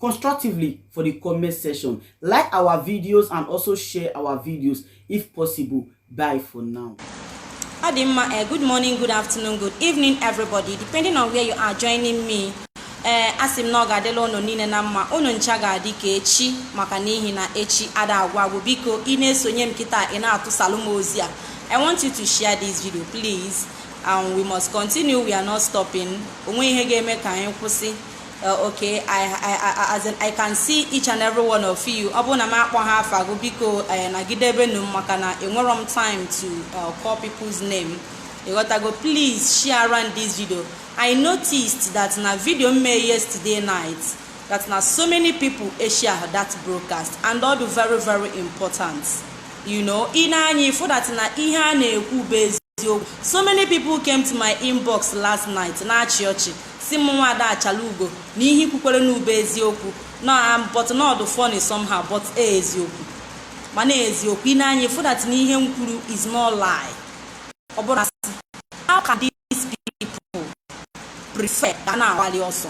constructively for the comment section. Like our videos and also share our videos if possible. Bye for now. Ọ dị mma, uh, eh, good morning, good afternoon, good evening, everybody, depending on where you are joining me. ee eh, asị m na ọ ga-adịla ụnụ niile na mma ụnụ ncha ga-adị ka echi maka n'ihi na echi ada agwụ agwụ biko ị na-esonye m kịta ị na-atụsalụ m ozi a i want you to share this video please and we must continue we are not stopping onwehị ihe ga-eme ka anyị kwụsị Uh, okay I, I, I, as in, I can see each and every one of you ọ bụrụ na m akpọhọ afa gụ biko eh, nagidebenụ m maka na enwerọ m time to uh, call people's name ịghọtago please share around this video I noticed that na video m mee yesterday night that na so many people share that broadcast and ọ dụ very very important you know ị nee anya ịfụ that na ihe a na-ekwu bụ eziokwu so many people came to my inbox last night na-achị ọchị sị m Nwaada Achalaugo na ihe i kwukwara na ọ bụ eziokwu na am but na ọ dụ funny somehow but ọ eziokwu mana eziokwu ị nee anya ịfụ that na ihe m kwuru is no lie ọ bụrọ asị how can these people prefer ka a na-agbalị ọsọ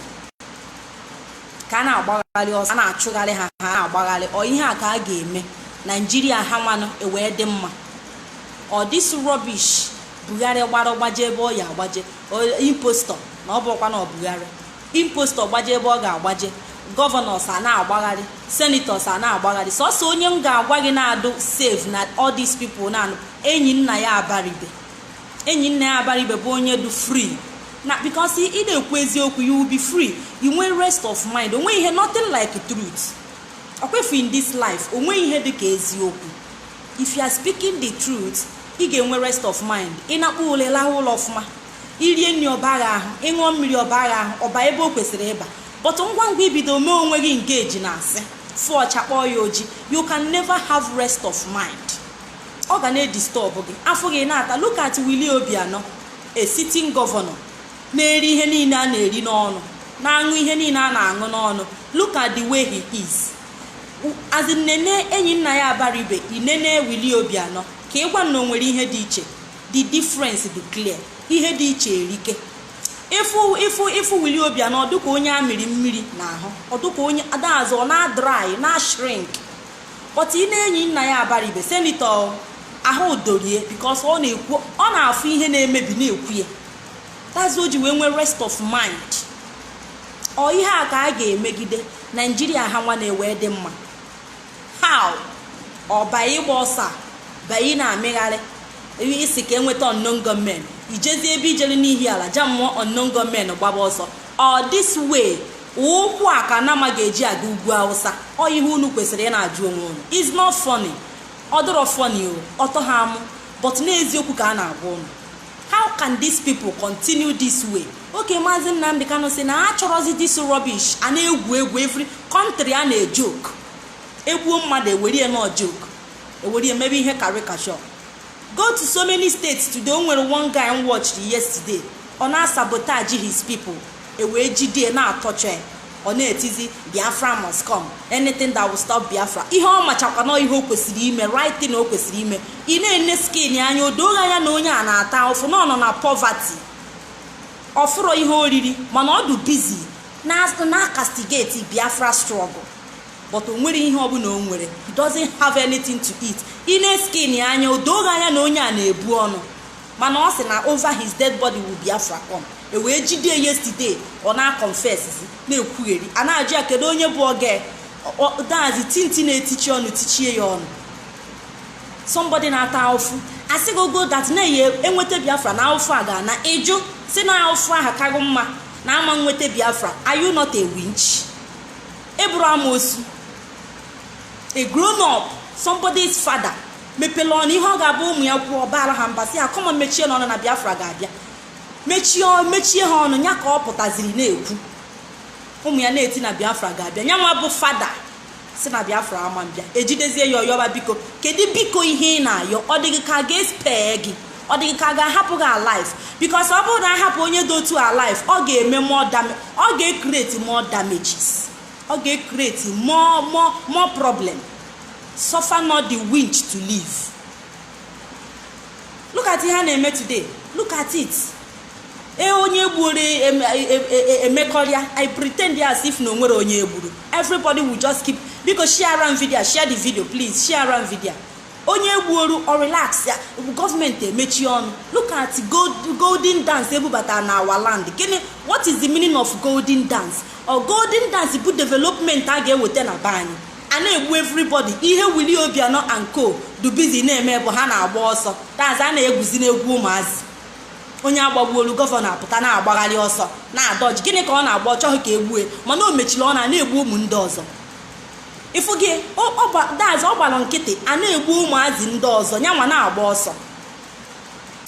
ka a na-agbagharị ọsọ a na-achụgharị ha ha na-agbagharị ọ ihe a ka a ga-eme Nigeria ha nwanụ ewee dị mma ọ this rubbish Buhari gbara gbaje ebe ọ ya-agbaje impostor na ọ bụrọkwa na ọ Buhari impostor gbaje ebe ọ ga-agbaje governors a na-agbagharị senators a na-agbagharị sọsọ onye m ga-agwa gị na-adụ safe na all these people na Enyinnaya Abaribe Enyinnaya Abaribe bụ onye dụ free na because ị na-ekwu eziokwu you will be free i nwee rest of mind onwehị ihe nothing like truth ọkwefu in this life onwehị ihe dị ka eziokwu If you are speaking the truth, ị ga-enwe rest of mind. Ị nakpuo ụla lahụ ụla ọfụma. I rie nri ọ baa gị ahụ, ị ṅụọ mmiri ọ baa gị ahụ, ọ baa ebe o kwesịrị ịba. But ngwa ngwa i bido mee onwe gị engage na asị, fụ ọcha kpọọ ya oji, you can never have rest of mind. Ọ ga na-edisturb gị, afọ gị na-ata. Look at Willie Obianọ, a sitting governor, na-eri ihe niile a na-eri n'ọnụ, na-aṅụ ihe niile a na-aṅụ n'ọnụ. Look at the way he is. as in nene Enyinnaya Abaribe i nene Willie Obianọ ka ị gwa m na o nwere ihe dị iche the difference dị clear ihe dị iche erike ịfụ ịfụ ịfụ Willie Obianọ ọ dụka onye a mịrị mmiri n'ahụ ọ dụka onye ada azụ ọ na-adry na-ashrink but ị nee Enyinnaya Abaribe senator ahụ doro ya because ọ na-ekwu ọ na-afụ ihe na-emebi na-ekwu ya that's ihe o ji wee nwee rest of mind ọ ihe a ka a ga-emegide naijiria ha nwa na-ewe dị mma how ọ by ịgba ọsọ a by na-amịgharị isi ka enweta unknown gunmen ijezi ebe ijere n'ihiala jamụọ unknown gunmen gbaba ọsọ ọ this way ụkwụ a ka nama ga-eji aga ugwu awụsa ọ ihe unu kwesịrị ị na-ajụ onwe unu it's not funny ọ dịrọ funny o ọtọ ha amụ but na eziokwu ka a na-agwa unu how can these people continue this way okay maazị nnamdị kanụ si na ha achọrọzi this rubbish a na-egwu egwu every country a na-ejoke egbuo mmadụ ewerie na ọ joke ewerie mebe ihe caricature go to so many states today o nwere one guy m watchiri yesterday ọ na-asabotage his people ewee jide ya na-atorture ya ọ na-etizi biafra must come anything that will stop biafra ihe ọ machakwa na ihe o kwesịrị ime right thing o kwesịrị ime ị na-ene skin ya anya o do gị anya na onye a na-ata ahụfụ na ọ nọ na poverty ọ fụrọ ihe oriri mana ọ dị busy na- na-acastigate biafra struggle but o nwere ihe ọbụna o nwere he doesn't have anything to eat ị nee skin ya anya o do gị anya na onye a na-ebu ọnụ mana ọ sị na over his dead body will biafra come ewee jide yesterday ọ na-aconfessizi na-ekwugheri a na-ajụ ya kedu onye bụ oge that's tinti na-etichi ọnụ tichie ya ọnụ somebody na-ata ahụfụ asị gị ogo that na ya enweta biafra na ahụfụ a ga-ana ị jụ si na ahụfụ aha ka gị mma na ama nweta biafra are you not a winch ị bụrọ amosu a grown up somebody's father mepere ọnụ ihe ọ ga-abụ ụmụ ya kwuo ọ baara ha mba si ha come on mechienụ ọnụ na biafra ga-abịa mechie ha ọnụ ya ka ọ pụtaziri na-ekwu ụmụ ya na-eti na biafra ga-abịa ya nwa bụ father si na biafra ama abịa ejidezie ya ọ yọba biko kedu biko ihe ị na-ayọ ọ dị gị ka a ga-espare gị ọ dị gị ka a ga-ahapụ gị alive because ọ bụrụ na ahapụ onye dị otu a alive ọ ga-eme more damage ọ ga-ecreate more damages ọ ga-ecreate more more more problem suffer not the winch to live look at ihe a na-eme today look at it e onye gbuoru em- e- e- e- emekọrịa i pretend as if na o nwere onye egburu everybody will just keep biko share around video share the video please share around video onye gbuoru ọ relaxịa gọọmenti emechi ọnụ look at gold- golden dance ebubata na our land gịnị what is the meaning of golden dance ọ golden dance bụ development a ga-eweta na be anyị a na-egbu everybody ihe Willie Obianọ and co du busy na-eme bụ ha na-agba ọsọ that's a na-egwuzi n'egwu ụmụazị onye agbagbuolu gọvanọ apụta na-agbagharị ọsọ na-adodge gịnị ka ọ na-agba ọ chọghị ka egbue mana o mechiri ọnụ a na-egbu ụmụ ndị ọzọ ị fụgo that's ọ gbara nkịtị a na-egbu ụmụazị ndị ọzọ ya nwa na-agba ọsọ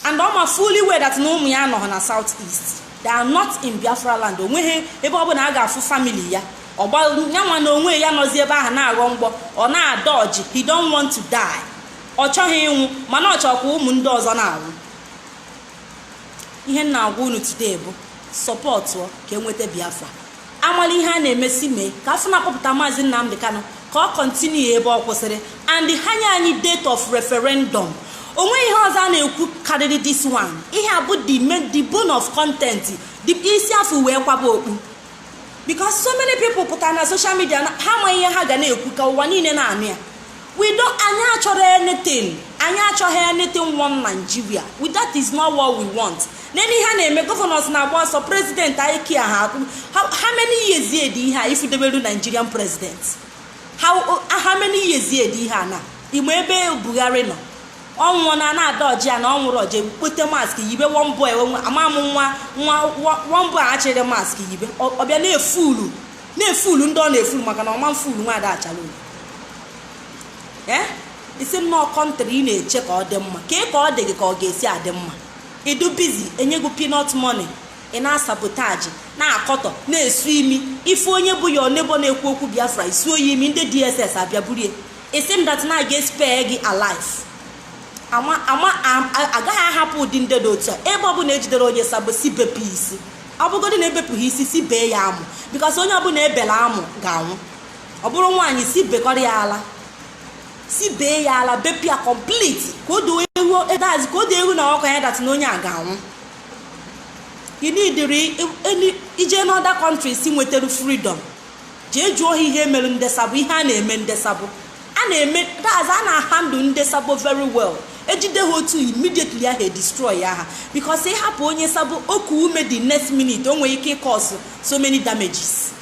and ọ ma fully well that na ụmụ ya anọghị na south east they are not in biafra land onweghị ebe ọ bụla a ga-afụ family ya ọgbaru ya nwa na onwe ya nọzi ebe ahụ na-aghọ mgbọ ọ na-adọji he don't want to die ọ chọghị ịnwụ mana ọ chọkwa ụmụ ndị ọzọ na-anwụ ihe m na-agwa unu today bụ support ka enweta biafra amala ihe a na-emesi mee ka a fụ na akpọpụta maazị nnamdi kanu ka ọ continue ebe ọ kwụsịrị and ha nye anyị date of referendum onweghị ihe ọzọ a na-ekwu karịrị this one ihe a bụ the main the bone of content the isi a fụ wee kwaba okpu because so many people pụtara na social media na- ha ma ihe ha ga na-ekwu ka ụwa niile na-anụ ya we don't anyị achọrọ anything anyị achọghị anything one nigeria we that is not what we want nene ihe a na-eme governors na-agba ọsọ president anyị kia ha akwụ how how many years ye dị ihe a ị fụdebelu nigerian president how, how many years ye dị ihe a na ị ma ebe buhari nọ ọ nwụọna na-adọji ya na ọ nwụrụ o jee kpote mask yibe one boy enwe ama m nwa nwa one boy a chịrị mask yibe Ọ- ọ bịa na-efulu na-efulu ndị ọ na-efulu maka na ọ ma fulu nwa ada achala oyi ee ị sị m na ọ country ị na-eche ka ọ dị mma ka ị ka ọ dị gị ka ọ ga-esi adị mma ị dị busy enye gị peanut money ị na-asabotaji na-akọtọ na-esu imi ị fụ onye bụ your neighbour na-ekwu okwu biafra i suo ya imi ndị dss abịa burie ị sị m that na a ga-espare gị alive ama ama a- a- agaghị ahapụ ụdị ndị dị otu a ebe ọbụla ejidere onye sabo sị bepụ isi ọ bụgodị na ebepụghị isi sị bee ya amụ because onye ọbụla ebela amụ ga-anwụ ọ bụrụ nwaanyị sị bekọrọ ya ala sị bee ya ala bepụ ya complete ka o doo ewu edazi ka o doo ewu na ọkụkọ anya that na onye a ga-anwụ you need ije n'other countries nwetara freedom jee jụọ ha ihe e mere nde sabo ihe a na-eme nde sabo a na-eme that's a na-ahandle nde sabo very well ejide ha otu immediately ahụ edestroy ya ha because ị hapụ onye sabo o kuo ume the next minute o nwere ike ịcause so many damages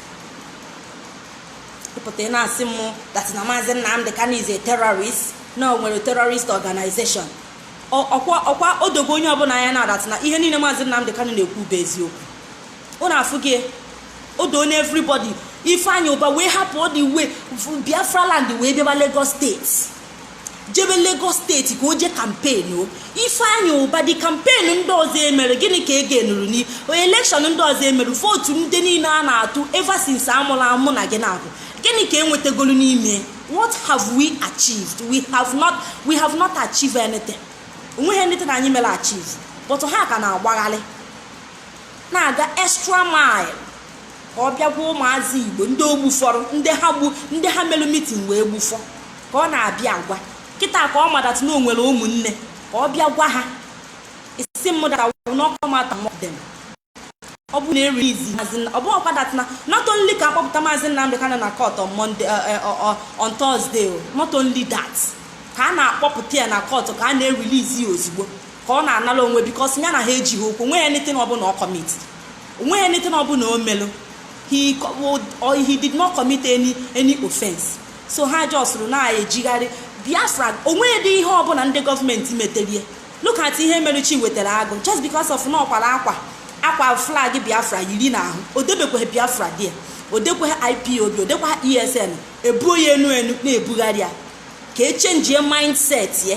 ị pụta ị na-asị m that na maazị nnamdi kanu is a terrorist na o nwere terrorist organization ọkwa ọkwa o dogo onye ọbụla anya now that na ihe niile maazị nnamdi kanu na-ekwu bụ eziokwu unu afụ gị o doo na everybody ifeanyi ubah wee hapụ all the way biafra land wee bịaba lagos state jebe lagos state ka o jee campaign ifeanyi ubah the campaign ndị ọzọ emere gịnị ka e gainuru ni election ndị ọzọ emere vote ndị niile a na-atụ ever since amụrụ mụ na gị na-abụ gịnị ka enwetagolu n'ime what have we achieved we have not we have not achieved anything onweghị anything anyị mere achieve but ha ka na-agbagharị na-aga extra mile ka ọ bịa gwa ụmụazị igbo ndị o gbufọrọ ndị ha gbu ndị ha melụ mitin wee gbufọ ka ọ na-abịa agwa kịta ka ọ ma dat na o nwere ụmụnne ka ọ bịa gwa ha isi m dara n'ọkọ mata mọdem ọ bụ na-erilizi ọ bụ ọkwa dat na not only ka a kpọpụta maazị Nnamdi Kanu na court on Monday on Thursday not only that ka a na-akpọpụta ya na court ka a na-erilizi ya ozugbo ka ọ na-anara onwe bikos ya na ha ejighị okwu o nweghị anything ọbụla ọ kọmit o nweghị anything ọbụla o melụ he co- would- or he did not commit any any offense so ha just rụ na-ejigharị biafra o nwedị ihe ọbụla ndị gọọmenti meterie look at ihe mere Chiwetara Agụ just because of na ọ kwara akwa akwa flag biafra yiri n'ahụ o debekweghị biafra there o dekweghị ipob o dekweghị esn e buo ya enu enu na-ebugharị ya ka echenjie mindset ya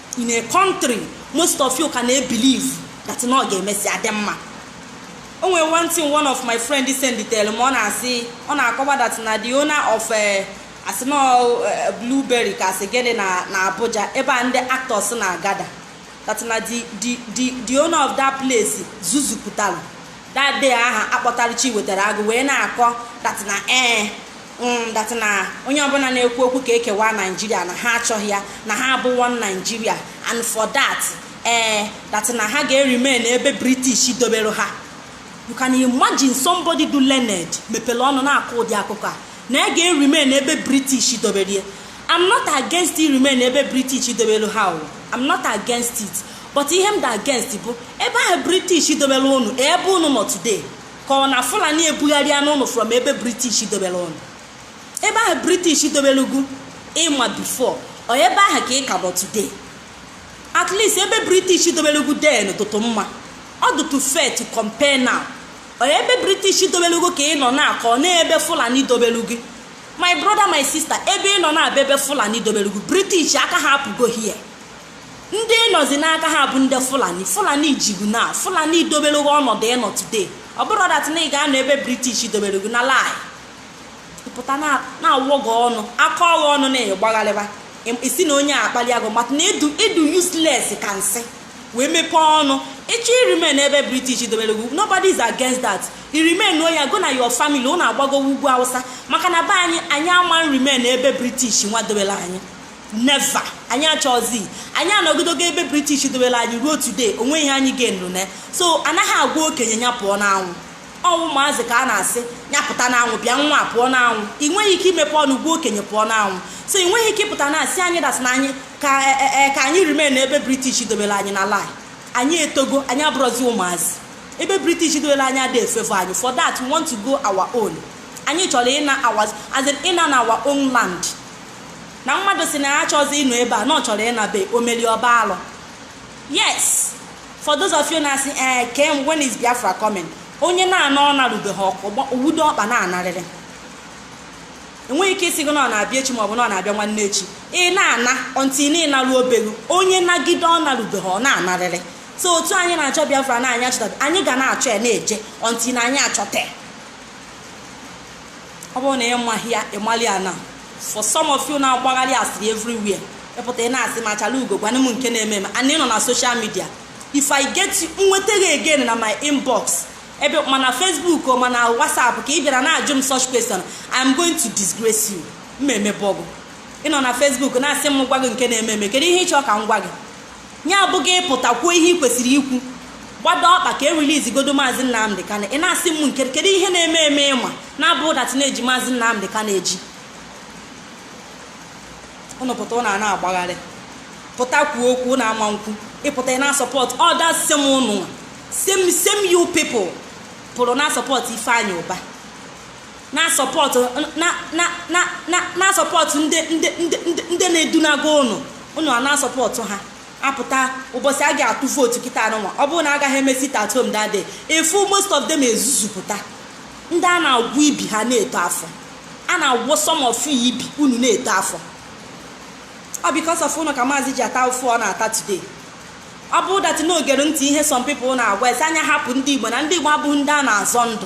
in a country most of you ka na-ebiliv that na ọ ga-emesi adị mma o nwere one thing one of my friend senditere m ọ na-asị ọ na-akọwa that na the owner of eh, asị na ọ, eh, blueberry ka a sị gịnị na na abuja ebe a ndị actors na-agada that na the the the the owner of that place zuzupụtara that day ahụ a kpọtara Chiwetara Agụ wee na-akọ that na ee Mm, that na onye ọbụla na-ekwu okwu ka e kewa naijiria na ha achọghị ya na ha bụ one naijiria and for that ee eh, that na ha ga-erimen ebe british dobere ha you can imagine somebody dụ learned mepere ọnụ na-akọ ụdị akụkọ a na ya ga-erimen ebe british dobere ya i'm not against remain ebe british dobere ha o i'm not against it but ihe m dị against bụ ebe ahụ british dobere unu ebe unu nọ today ka ọ na fulani ebugharịana ụnụ from ebe british dobere ụnụ ebe ahụ british dobere gụ ị ma bifo ọ ebe ahụ ka ị ka nọ today at least ebe british dobere gụ then dụtụ mma ọ dụtụ fair to compare now ọ ebe british dobere gụ ka ị nọ now ka ọ n'ebe fulani dobere gụ my brother my sister ebe ị nọ now bụ ebe fulani dobere gụ british aka ha apụgo here ndị ị nọzi n'aka ha bụ ndị fulani fulani ji gụ now fulani dobere gị ọnọdụ ị nọ today ọ bụrụ dat na ị ga-anọ ebe british dobere gị na lie pụta na-awọ gị ọnụ aka ọghị ọnụ na-agbagharịba isi na onye akpali agụ maka na ị dụ useless ka nsị wee mepee ọnụ ị chọ irimen ebe british dobere gị nobody is against that irimennụ ya gụ na your family ụnụ agbagowo ugwu awụsa maka na be anyị anyị ama nrimen ebe british nwa dobere anyị never anyị achọzi anyị anọgidogo ebe british dobere anyị ruo today o nwe ihe anyị ga-enụ na so anaghị agwa okenye ya pụọ n'anwụ ọ ụmụazị ka a na-asị ya pụta n'anwụ bịa nwa pụọ n'anwụ ị nweghị ike imepe ọnụ gwa okenye pụọ n'anwụ so ị nweghị ike ịpụta na-asị anyị that na anyị ka e, e, e, ka anyị remain ebe british dobere anyị na lie anyị etogo anyị abụrọzi ụmụazị ebe british dobere anyị adị efavour anyị for that we want to go our own anyị chọrọ ịna our as in ịna na our own land na mmadụ sị na ya achọzi ịnọ ebe a na ọ chọrọ ịnabe omeli ọ bụ alụ yes for those of you na-asị ee kem when is biafra coming onye na-ana ọ narubeghị ọkụ o wudo ọkpa na-anarịrị enweghị ike ịsị gị na ọ na-abịa echi maọbụ na ọ na-abịa nwanne echi ị na-ana until na ị naru obelu onye nagide ọ narubeghị ọ na-anarịrị so otu anyị na-achọ biafra na anyị achọtabe anyị ga na-achọ ya na-eje until na anyị achọta ya ọ bụrụ na ị maghị ya ị mara ya na for some of you na-agbagharị asịrị everywhere ị pụta ị na-asị m achalaugo gwanụ m nke na-eme eme and ị nọ na social media if i get you nweta gị again na my inbox ebe ma na facebook o ma na whatsapp ka ị bịara na-ajụ m such question i'm going to disgrace you m ma emebọ gụ ị nọ na facebook na-asị m gwa gị nke na-eme eme kedu ihe ị chọọ ka m gwa gị ya abụghị ịpụta kwuo ihe ị kwesịrị ikwu gbado ọkpa ka e release godu maazị nnamdị kanu ị na-asị m nke kedu ihe na-eme eme ị ma na ọ bụ that na e ji maazị nnamdị kanu eji ụnụ pụta ụnụ a na-agbagharị pụta kwuo okwu ụnụ ama nkwu ị pụta ị na-asupport others same ụnụ same same you people pụrụ na-asupport ifeanyị ụba na-asupport na-asupport ndị na-edunago ụnụ ụnụ a na-asupport ha apụta ụbọchị a ga-atụ vote kịta anụnwa ọ bụrụ na agaghị eme sit at home that day ị fụ most of them ezuzupụta ndị a na-agwọ ibi ha na-eto afọ a na-agwọ some of you ibi unu na-eto afọ ọ because of ụnụ ka maazị ji ata afụfụ ọ na-ata today ọ bụrụ that na o gere ntị ihe some people na-agwa ya sị nya hapụ ndị igbo na ndị igbo abụghị ndị a na-azọ ndụ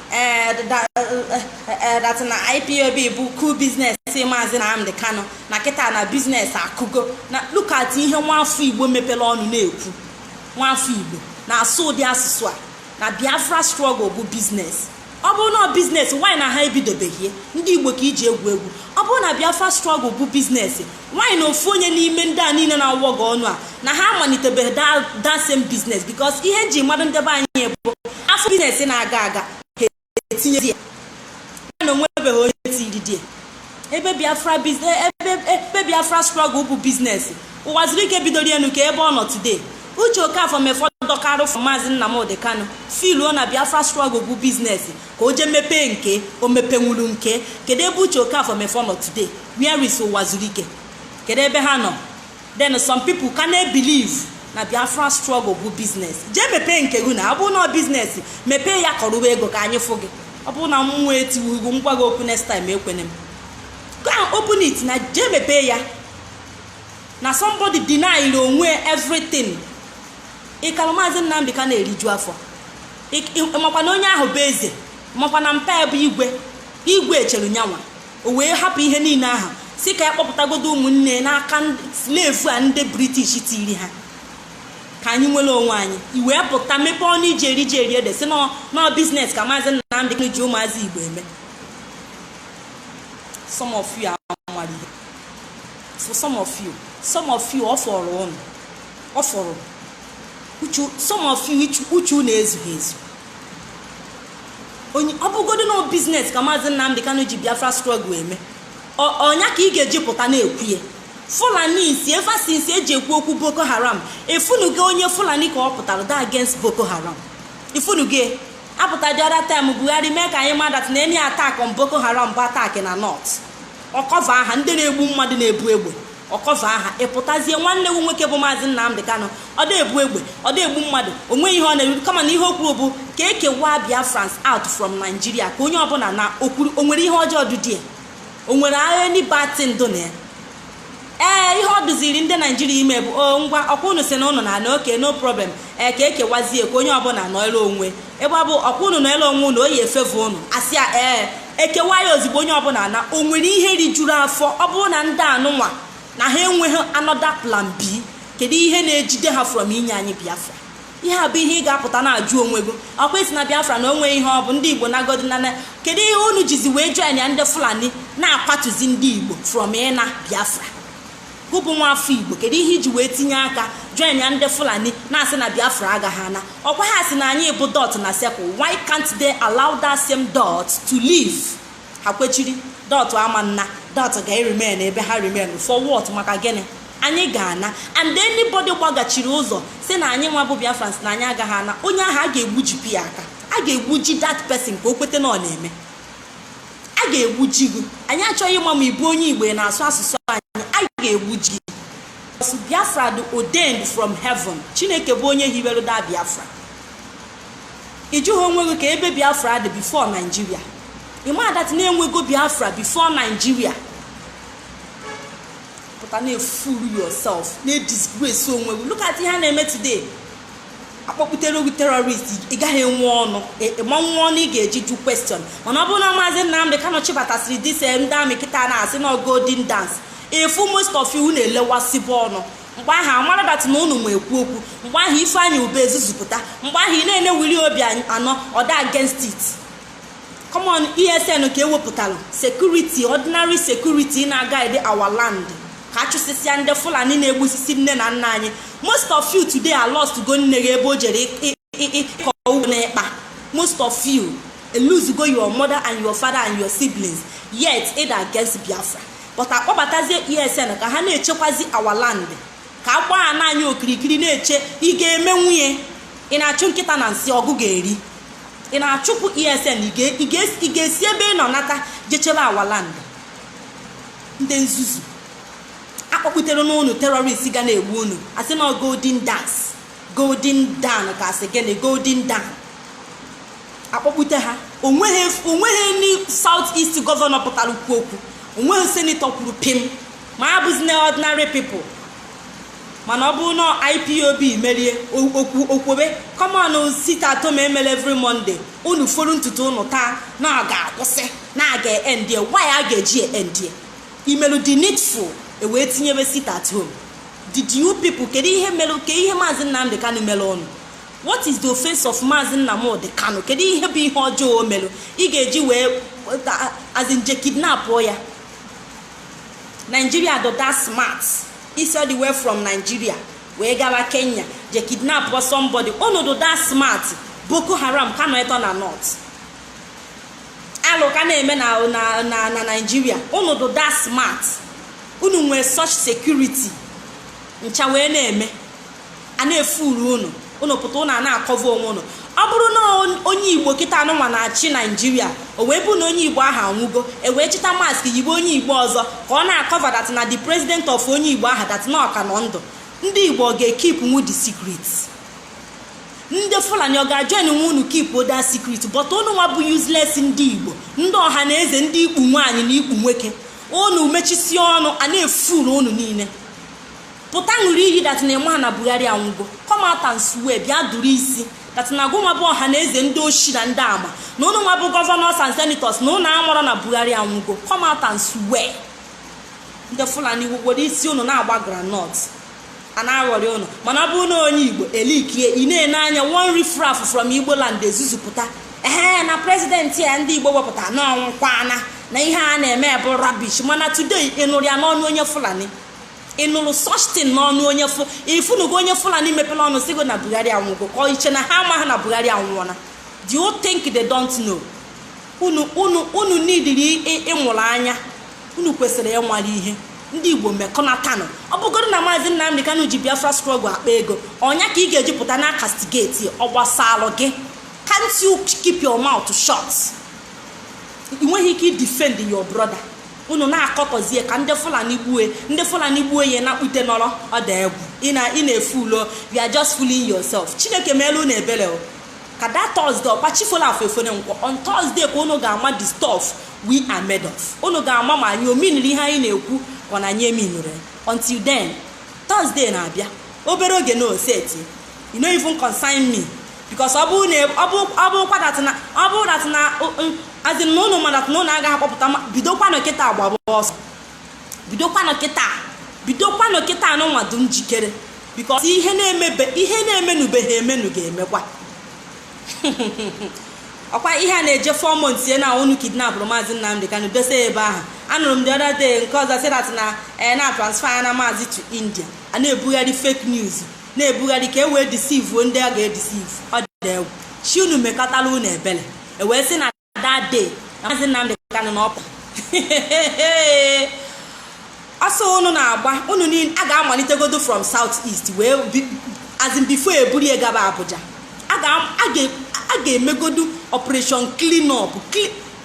Eh, eh, eh, that na ipob bụ cool business maazị Nnamdi Kanu na kịta na business akụgo na look at ihe nwafọ igbo mepere ọnụ na-ekwu nwafọ igbo na-asụ ụdị asụsụ a na biafra struggle bụ business ọ bụrụ na ọ business why na ha ebidobeghị ya ndị igbo ka i ji egwu egwu ọ bụrụ na biafra struggle bụ business Why na ofu onye n'ime ndị a niile na-awọga ọnụ a na ha amalitebeghị that, that same business because ihe e ji malụ ndị be anyị bụ a fụ business na-aga aga ha etinye di ya ya na o nwebeghị onye trade ya ebe biafra bus- e- ebe ebe biafra struggle bụ business ụwazuruike bidoro ya nụ ka ebe ọ nọ today uche okafọ mefọ dọkarụ fọ maazị nnamdị kano filuo na biafra struggle bụ business ka o je mepee nke o mepenwuru nke kedu ebe uche okafọ mefọ nọ today where is ụwazuruike kedu ebe ha nọ then some people ka na-ebelieve na biafra struggle bụ business jee mepee nke gị na ọ bụrụ na ọ business mepee ya kọrụwa ego ka anyị fụ gị ọ bụrụ na mmụọ etiwughị gị m gwa gị okwu next time ekwene m go and open it na jee mepee ya na somebody denied onwe everything ị kalụ maazị nnamdị kanụ na-eriju afọ makwa na onye ahụ bụ eze makwa na mpa ya bụ igwe igwe echere nyanwa o wee hapụ ihe niile ahụ sị ka ya kpọpụtagodo ụmụnne n'aka slave a ndị british tiri ha ka anyị nwere onwe anyị i wee pụta mepee ọnụ i ji eri ji eri ede sị na ọ business ka maazị Nnamdị Kanu ji ụmụazị igbo eme some of you amaghị ihe for some of you some of you ọ fọrọ ụnụ ọ fọrọ uchu some of you uchu- uchu unu ezughị ezu onye ọ bụgodo na business ka maazị nnamdị kanụ ji biafra struggle eme Ọ- ọ nya ka ị ga-eji pụta na-ekwu ya fulanis ever since e ji ekwu okwu boko haram ị fụnugo onye fulani ka ọ pụtara dị against boko haram ị fụnugo a pụta the other time buhari mee ka anyị ma that na any attack on boko haram bụ attack na north ọ cover ha ndị na-egbu mmadụ na-ebu egbe ọ cover ha ị pụtazie nwanne gị nwoke bụ maazị Nnamdị Kanụ ọ dị ebu egbe ọ dị egbu mmadụ o nweghị ihe ọ na-eru kama na ihe o kwuru bụ ka e kewaa Biafrans out from Nigeria ka onye ọbụla naa okwuru o nwere ihe ọjọọ dị di ya o nwere agha nibati ndụ na ya ee ihe ọ dụziri ndị naijiria ime bụ o ngwa ọkwa unu sị na ụnụ na-ana okay no problem ee ka e kewazie ka onye ọbụla nọrọ onwe ebe ọ bụ ọkwa unu na-ele onwe unu oyi efefe unu asị ya ee e kewaa ya ozugbo onye ọbụla ana o nwere ihe rijuru afọ ọ bụrụ na ndị anụnwa na ha enweghị another plan b kedu ihe na-ejide ha from inye anyị biafra ihe a bụ ihe ị ga-apụta na-ajụ onwe gị ọkwa ị sị na biafra na o nweghị ihe ọ bụ ndị igbo nagodi nana kedu ihe unu jizi wee joinia ndị fulani na-akwatuzi ndị igbo from ịna biafra gụ bụ nwa afọ igbo kedu ihe i ji wee tinye aka joinia ndị fulani na-asị na biafra agaghị ana ọkwa ha sị na anyị bụ dot na circle why can't they allow that same dot to leave ha kwechiri dot ama na dot ga-eremain ebe ha remain for what maka gịnị anyị ga-ana and anybody gbagachiri ụzọ sị na anyị nwa bụ biafrans na anyị agaghị ana onye ahụ a ga-egbujipụ ya aka a ga-egbuji that person ka o kweta na ọ na-eme a ga-egbuji gị anyị achọghị ịma ma ị bụ onye igbo na-asụ asụsụ anyị a ga-egbuji gị so biafra dị ordained from heaven chineke bụ onye hiwere the biafra ị jụghị onwe gị kee ebe biafra dị before naijiria ị ma that na e nwego biafra before naijiria pụta na-efool yourself na-edisgrace onwe gị look at ihe a na-eme today akpọpụtere gị terrorist ị gaghị enwe ọnụ ị ma enwe ọnụ ị ga-eji jụọ question mana ọ bụrụ na maazị Nnamdị Kanụ chịbatasịrị these eh, ndị army kịta na-asị na golden dance ị fụ most of you na-elewasịbụ ọnụ mgbe ahụ a mara that na ụnụ ma ekwu okwu mgbe ahụ Ifeanyi Uba ezuzupụta mgbe ahụ ị na-ene Willie Obiano ọ dụ against it common esn ka e wepụtara security ordinary security na-aguide our land ka a chụsịsịa ndị fulani na-egbusisi nne na nna anyị most of you today alostgo nne gị ebe o jere ịkọ ugbo n'ikpa most of you elosego your mother and your father and your siblings yet ị dụ against biafra but a kpọbatazie esn ka ha na-echekwazi our land ka agba ana anyị okirikiri na-eche ị ga-emenwu ye ị na-achụ nkịta na nsị ọ gụ ga-eri ị na-achụpụ esn ị ga- ị ga- ị ga-esi ebe ị nọ nata je chebe our land ndị nzuzu akpọkputere n'ụnụ terrorist ga na-egbu unu a sị na ọ golden dance golden dawn ka a sị gịnị golden dawn a kpọkpute ha o nweghị o nweghị any south east governor pụtara kwuo okwu o nweghị senator kwuru pim ma a bụzi na ordinary people mana ọ bụrụ na ipob merie okwobe common sit at home e melu every monday unu folu ntutu unu taa na ọ ga-akwụsị na a ga-endie why a ga-eji endie i melu the needful e wee tinyebe sit at home did you people kedu ihe mere ke ihe maazị nnamdị kanu mere ụnụ what is the offense of maazị nnamdị kanu kedu ihe bụ ihe ọjọọ o mere ị ga-eji wee as in je kidnapụọ ya nigeria dụ that smart i si all the way from nigeria wee gawa kenya je kidnapụọ somebody unu dụ that smart boko haram ka nọ eto na north alụ ka na-eme na na na na nigeria unu dụ that smart unu nwee such security ncha wee na-eme a na-efool unu unu pụta unu a na-akọva onwe unu ọ bụrụ na onye igbo kịta anụnwa na-achị nigeria o wee bụ na onye igbo ahụ anwụgo e wee chịta mask yibe onye igbo ọzọ ka ọ na-akọva that na the president of onye igbo ahụ that na ọ ka nọ ndụ ndị igbo ọ ga-ekeepnwu the secret ndị fulani ọ ga-ajoinnwu unu keepụọ that secret but unu nwa bụ useless ndị igbo ndị ọha na eze ndị ikpu nwaanyị na ikpu nwoke unu mechisie ọnụ a na-efool unu niile pụta ṅụrụ iyi that na ị ma na buhari anwụgo come out and swear bịa dụrụ isi that na gụnwa bụ ọha na eze ndị oshi na ndị ama na ụnụ nwa bụ governors and senators na ụnụ amarọ na buhari anwụgo come out and swear ndị fulani were isi ụnụ na-agba groundnut a na-aghọrị ụnụ mana ọ bụrụ na onye igbo e leakie ị na-ene anya one riffraff from igbo land ezuzupụta ee na president a ndị igbo wepụta na ọ nwụkwana na ihe a na-eme bụ rubbish mana today ị nụrụ ya n'ọnụ onye fulani ị nụrụ such thing n'ọnụ onye fụ ifunugo onye fulani mepere ọnụ sigo na buhari anwụgo ka ọ iche na ha amaghị na buhari anwụọla do you think they don't know unu unu unu nidiri ị- ịmụrụ anya unu kwesịrị ịmara ihe ndị igbo mekọnatanụ ọ bụgodo na maazị nnamdị kanụ ji biafra struggle akpa ego ọ nya ka ị ga-eji pụta na-acastigate ọ gbasalụ gị can't you keep your mouth shut ị nweghị ike idefend your brother unu na-akọtọzie ka ndị fulani gbue ndị fulani gbue ya na kpute nọrọ ọ dị egwu ị na- ị na-efool you are just fooling yourself chineke meelu unu ebele o ka that thursday ọkwa chi fola afọ efere nkwọ on thursday ka unu ga-ama the stuff we are made of unu ga-ama ma anyị ominiri ihe anyị na-ekwu ka ọ na anyị eminirọ until then thursday na-abịa obere oge na oseti e no even concern me because ọ bụrụ na ọ bụrụkwa that na ọ bụrụ that na as in na ụnụ ma that na ụnụ agaghị akpọpụta bidokwanụ kịta agbaba ọsọ bidokwanụ kịta bidokwanụ kịta anụnwa dị njikere because ihe na-emebe ihe na-emenubeghị emenu ga-emekwa ọkwa ihe a na-eje four months ya na unu kidnapụrụ maazị Nnamdị Kanu dose ebe ahụ anụrụ m the other day nke ọzọ sị na eh, na atransferala maazị to India a na-ebugharị fake news na-ebugharị ka e wee deceivuo ndị a ga-edeceive ọ dị egwu chi unu mekatara unu ebere e wee sị na that day na maazị Nnamdị Kanụ na ọpụ ọsọ unu na-agba unu niile a ga-amalitegodo from south east wee as in before e buru ya gaba Abuja a ga-emegodu operation clean up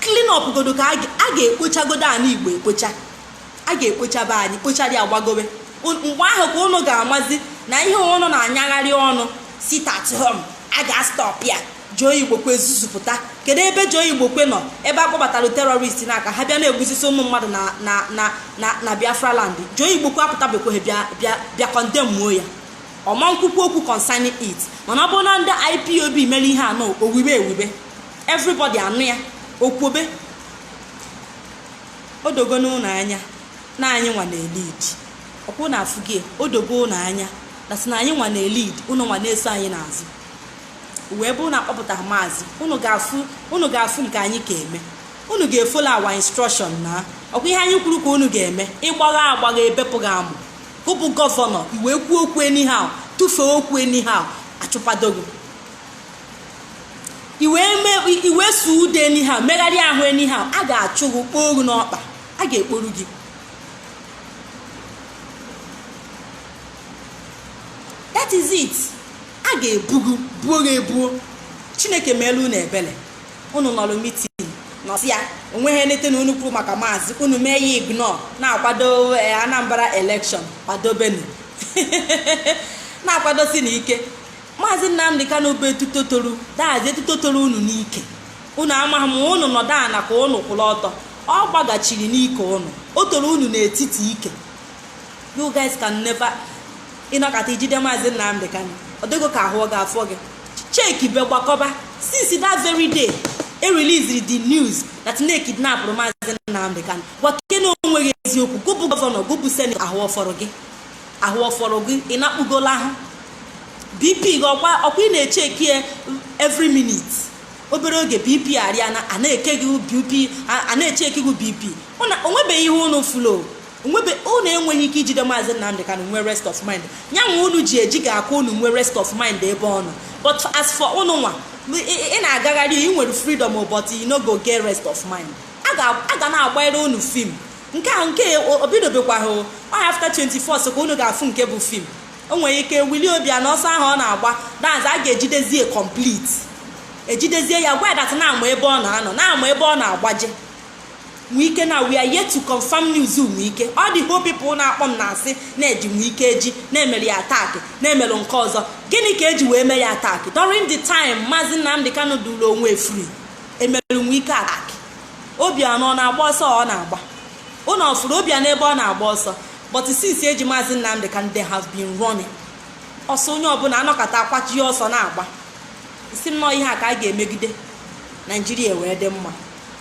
clean up godo ka a ga-ekpochagodo anị Igbo ekpocha a ga-ekpochaba anị kpochara ya gbagobe mgbe ahụ ka ụnụ ga-amazi na ihe ụnụ na-anyagharị ọnụ sit at home a ga-astọp ya Joe Igbokwe ezuzupụta kedu ebe Joe Igbokwe nọ ebe a kpọbatara terrorist na aka ha bịa na-egbusisi ụmụ mmadụ na na na na na biafra land Joe Igbokwe apụtabekweghị bịa bịa bịa condemnuo ya ọ ma nkwukwu okwu concerning it mana ọ bụrụ na ndị ipob mere ihe anọ owibe ewibe everybody anụ ya okwobe o dogo ụnụ anya na anyị nwa na-elead ọkwa ụnụ afụgo ya o dogo ụnụ anya na sị na anyị nwa na-elead ụnụ nwa na-eso anyị n'azụ wee bụrụ na akpọpụtara maazị ụnụ ga-afụ ụnụ ga-afụ nke anyị ka eme ụnụ ga-efollow our instruction na ọkwa ihe anyị kwuru ka ụnụ ga-eme ị gbagha agbagha ebepụ gị amụ gụ bụ governor i wee kwuo okwu anyhow tụfee okwu anyhow achụpado gụ i wee sụọ ude anyhow megharịa ahụ anyhow a ga-achụ gị kpoo oru n'ọkpa a ga-ekporu gị that is it a ga-ebugo buo gị ebuo chineke meelu unu ebele unu nọrọ meeting nọsịa onweghị nete na unu kwuru maka maazị unu mee ya ignore na-akwado anambra election kwadobenu na-akwadosi na ike maazị nnamdị kanu bụ etuto toro that is etuto toro unu n'ike unu amaghị ma unu nọdụ ana ka unu kwụrụ ọtọ ọ gbagachiri n'ike unu o toro unu n'etiti ike you guys can never ị nọkata ijide maazị nnamdị kanu ọ dị gị ka ahụ ọ ga-afọ gị chekibe gbakọba since that very day they released the news that na ekidnapụrụ maazị nnamdị kanu gwakene onwe gị eziokwu gị bụ governor gị bụ senator ahụ ọ fọrọ gị ahụ ọ fọrọ gị ị na-akpụgola ahụ bp gị ọkwa ọkwa ị na-echeki ya every minute obere oge bp arịa na a na-eke gị bp a- a na-echeki gị bp una onwebeghị ihe unu fụlụ onwebe unu enweghị ike ijide maazị nnamdị kanu nwee rest of mind ya nwa unu ji eji ga-aka unu nwee rest of mind ebe ọ nọ but as for unu nwa ị- ị ị na-agagharị ị nwere freedom but you no go get rest of mind a ga- a ga na-agbanyere unu film nke a nke o bidobekwaghị o ọ ya after 24 ka unu ga-afụ nke bụ film o nwere ike willie obianọ ọsọ ahụ ọ na-agba that's a ga-ejidezie complete ejidezie ya gwa ya that na a ma ebe ọ na-anọ na a ma ebe ọ na-agbaje nwike na we are yet to confirm news nwike all the whole people na-akpọ m na-asị na e ji nwike eji na e mere ya attack na e mere nke ọzọ gịnị ka eji wee mee ya attack during the time maazị nnamdị kanu duru onwe free e mere nwike attack obianọ ọ na-agba ọsọ ọ na-agba unu ọ fụrụ obianọ ebe ọ na-agba ọsọ but since eji maazị nnamdị kanu they have been running ọsọ onye ọbụla anọkata kwachie ọsọ na-agba sị m nnọọ ihe a ka a ga-emegide naijiria wee dị mma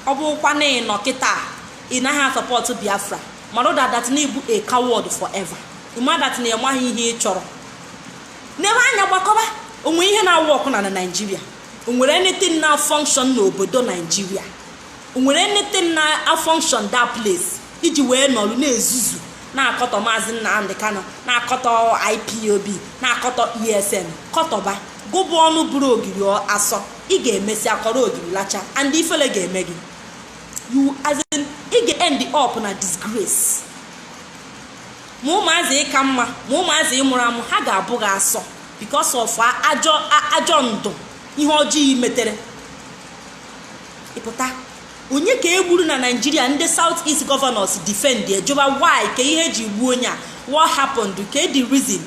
ọ bụkwa na ị nọ kịta ị naghị asupport biafra mara that na ị bụ a coward forever ị ma that na ị maghị ihe ị chọrọ nebe anya gbakọba o nwe ihe na-awork na na naijiria o nwere anything na function n'obodo naijiria o nwere anything na function that place i ji wee nọrọ na-ezuzu na-akọtọ maazị nnamdị kanu na-akọtọ ipob na-akọtọ esn kọtọba gị bụ ọnụ bụrụ ogiri asọ ị ga-emesịa kọrọ ogiri lachaa and ifele ga-eme gị you as in ị ga-end up na disgrace ma ụmụazị ị ka mma ma ụmụazị ị mụrụ amụ ha ga-abụ gị asọ because of ajọ ajọ ndụ ihe ọjọọ ị metere ịpụta onye ka e gburu na naijiria ndị south east governors defend ajụba why kee ihe e ji gbuo onye a what happened kee the reason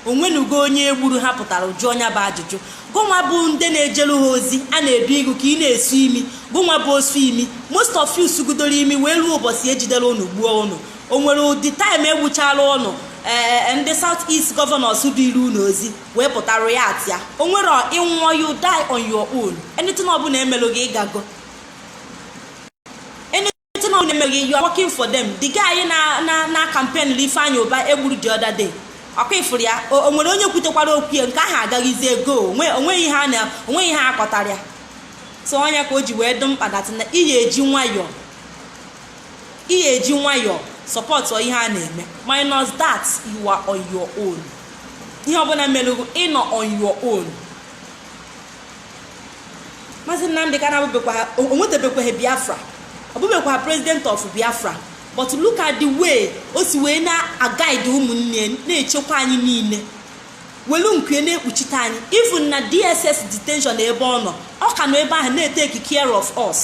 onwenugo onye egburu ha pụtara jụọ nya bụ ajụjụ gụnwa bụ ndị na-ejelu ha ozi a na-edu gị ka ị na-esu imi gụnwa bụ osu imi most of you sugidoro imi wee ruo ụbọchị ejidere unu gbuo unu o nwere ụdị taịm egbuchara ụnụ ee ndị south east gọvanọs duru unu ozi wee pụta riaktịa o nwere ị nwụọ you die on your own anything ọbụla emelụ gị ị gago anything ọbụla emelụ gị you are working for them the guy na na na campaign Ifeanyi Uba egburu the other day ọkwa ị fụrụ ya o o nwere onye kwutekwara okwu ya nke ahụ agazigo onwe- onweghị ihe a na onweghị ihe a kọtara ya so ọ nya ka o ji wee dị mkpa dat na ị ga-eji nwayọọ ị ga-eji nwayọọ sọpọtụọ ihe a na-eme minus that you are on your own ihe ọbụla melụ gị ị nọ on your own maazị nnamdị kanụ o nwetebekwaghị biafra ọ bụbekwaghị president of biafra but look at the way o si wee na-agaid ụmụnne na-echekwa anyị niile welu nku na-ekpuchite anyị even na dss detention ebe ọ nọ ọ ka nọ ebe ahụ na-eteki care of us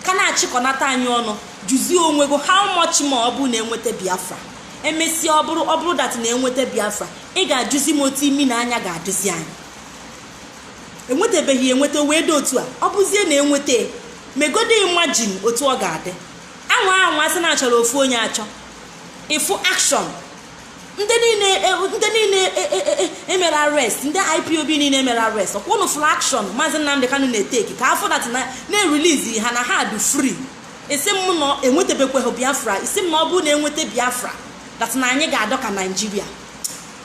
ka na-achịkọnata anyị ọnụ jụzie onwe gị how much more ọ bụrụ na enweta biafra emesịa ọ bụrụ ọ bụrụ dat na enweta biafra ị ga-ajụzi m otu imi na anya ga-adịzi anyị enwetabeghị enweta wee dị otu a ọ bụzie na enweta megodi imajin otu ọ ga-adị anwa anwa sị na achọrọ ofu onye achọ ịfụ akshọn ndị niile e, ndị niile emere e, e, arrest ndị ipob niile emere arrest ọkwa ụnụ fụrụ action maazị nnamdị kanụ na-eteki ka a fụ dat na erilizi ha na ha dị free ị sị m na enwetabekweghị biafra ị sị m na ọ bụrụ na enweta biafra that na anyị ga-adị ka naijiria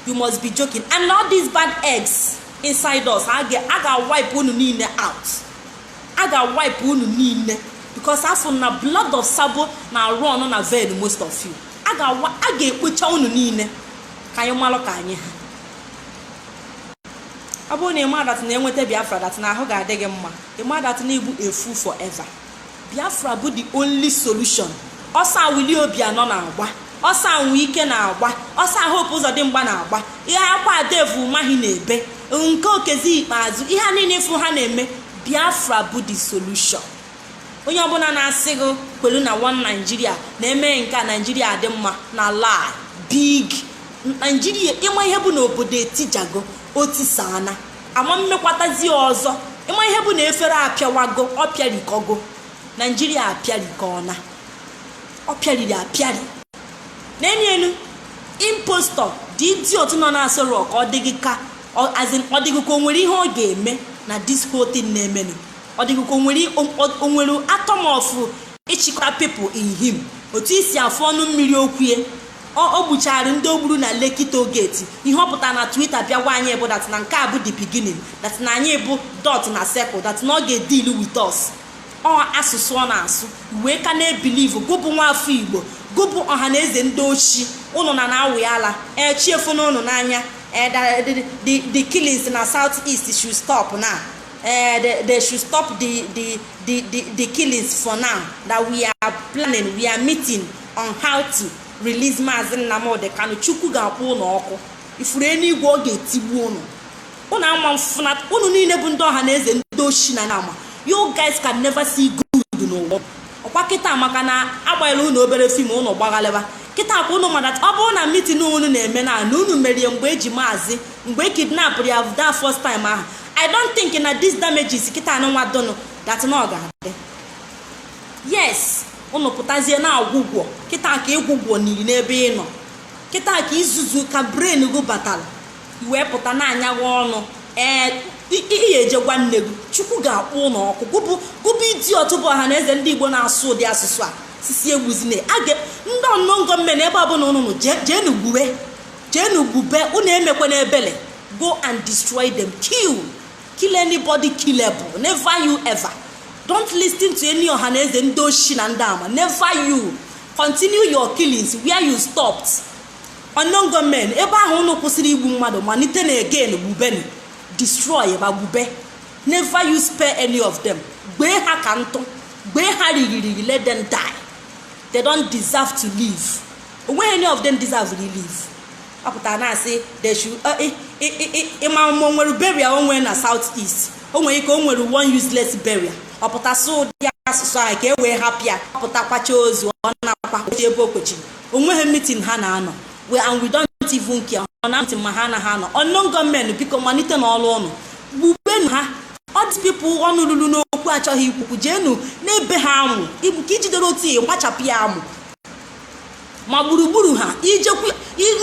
you must be joking and all these bad eggs inside us a ga-wipe unu niile out a ga-wipe unu niile because a fụ na blood of sabo na-arun na vein most of you a ga-awa a ga-ekpocha unu niile ka anyị malụ ka anyị ha ọ bụrụ na ị ma dat na enweta biafra dat na ahụ ga-adị gị mma ị ma dat na igbu efu forever biafra bụ the only solution ọsọ a willie obianọ na-agba ọsọ a wike na-agba ọsọ a hope uzodimgba na-agba ihe akwa a dave umahi na-ebe nke okezie ikpeazụ ihe a niile ị fụ ha na-eme biafra bụ the solution onye ọbụla na-asị gị kwelu na one naijiria na-eme nke a naijiria dị mma na lie big naijiria ịma ihe bụ na obodo etijago o tisana ama mmekwatazi ọzọ ịma ihe bụ na efere apịawago ọ pịarikogo naijiria apịarikona ọ pịariri apịari n'elu elu impostor the idiot nọ na Aso Rock ọ dịghị ka ọ dịghị ka o nwere ihe ọ ga-eme na this whole thing na-emenụ ọ dịghị ka o nwere o- o- o nwere atom of ịchịkwa people in him otu i si afụ ọnụ mmiri okwu ya ọ ọ gbuchara ndị o gburu na Lekki toll gate ihe ọ pụtara na Twitter bịa gwa anyị bụ that na nke a bụ the beginning that na anyị bụ dot na circle that na ọ ga-edeal with us ọ asụsụ ọ na-asụ wee ka na-ebilivu gụ bụ nwa afọ igbo gụ bụ ọha na eze ndị oshi ụnụ na na-awụ ya ala ee chi efona ụnụ n'anya ee da- the- the- the killings na south east should stop now uh, they, they should stop the, the, the, the, the killings for now that we are planning we are meeting on how to release maazị nnamdị kanu chukwu ga-akpọ ụnụ ọkụ ị furu eluigwe ọ ga-etigbu ụnụ ụnụ ama mfụnat ụnụ niile bụ ndị ọha na eze ndị oshi na ama you guys can never see good n'ụwa ọkwa kịta maka na a gbanyela ụnụ obere fim ụnụ gbaghalịba kịta kwa ụnụ ma that ọ bụrụ na mitin ụnụ na-eme now na ụnụ mere ya mgbe e ji maazị mgbe e kidnapụrụ ya that first time ahụ i don't think na these damages kịta anụnwa dụnụ that na ọ ga-adị yes ụnụ pụtazie na-agwụgwọ kịta ka ị gwụgwọ niri n'ebe ị nọ kịta ka izuzu ka brain gị batara i wee pụta na-anya gị ọnụ ee i jee gwa nne gị chukwu ga-akpọ ụnụ ọkụ gụ bụ gụ bụ idiot bụ ọha na eze ndị igbo na-asụ ụdị asụsụ a sị sị egbuzine aga ndị unknown gunmen ebe ọbụla ụnụ nọ jee- jeenu gbube jeenu gbube ụnụ emekwene ebele go and destroy them kill kill anybody killable never you ever don't listen to any ọha na eze ndị oshi na ndị ama never you continue your killings where you stopped unknown gunmen ebe ahụ unu kwụsịrị igbu mmadụ malitenụ again gbubeni destroyba gbube never you spare any of them gwee ha ka ntụ gwee ha rigirigi let them die they don't deserve to live o nweghị any of them deserve to live ọ pụtara na-asị they should ị ma ma o nwere burial o nwere na south east o nwere ike o nwere one useless burial ọ pụta sụọ ụdị asụsụ ahụ ka e wee hapụ ya ọ pụta kwachaa ozu ọ na-akwa ebe o kwechiri o nweghị mitin ha na-anọ we and we don't even care ọ na mitin ma ha anaghị anọ unknown gunmen biko malite n'ọrụ ụnụ gbubenu ha all these people ọnụ lulu n'okwu achọghị ikwu okwu jeenu na-ebe ha amụ ka i jidere otu i gbachapụ ya amụ ma gburugburu ha ijekwu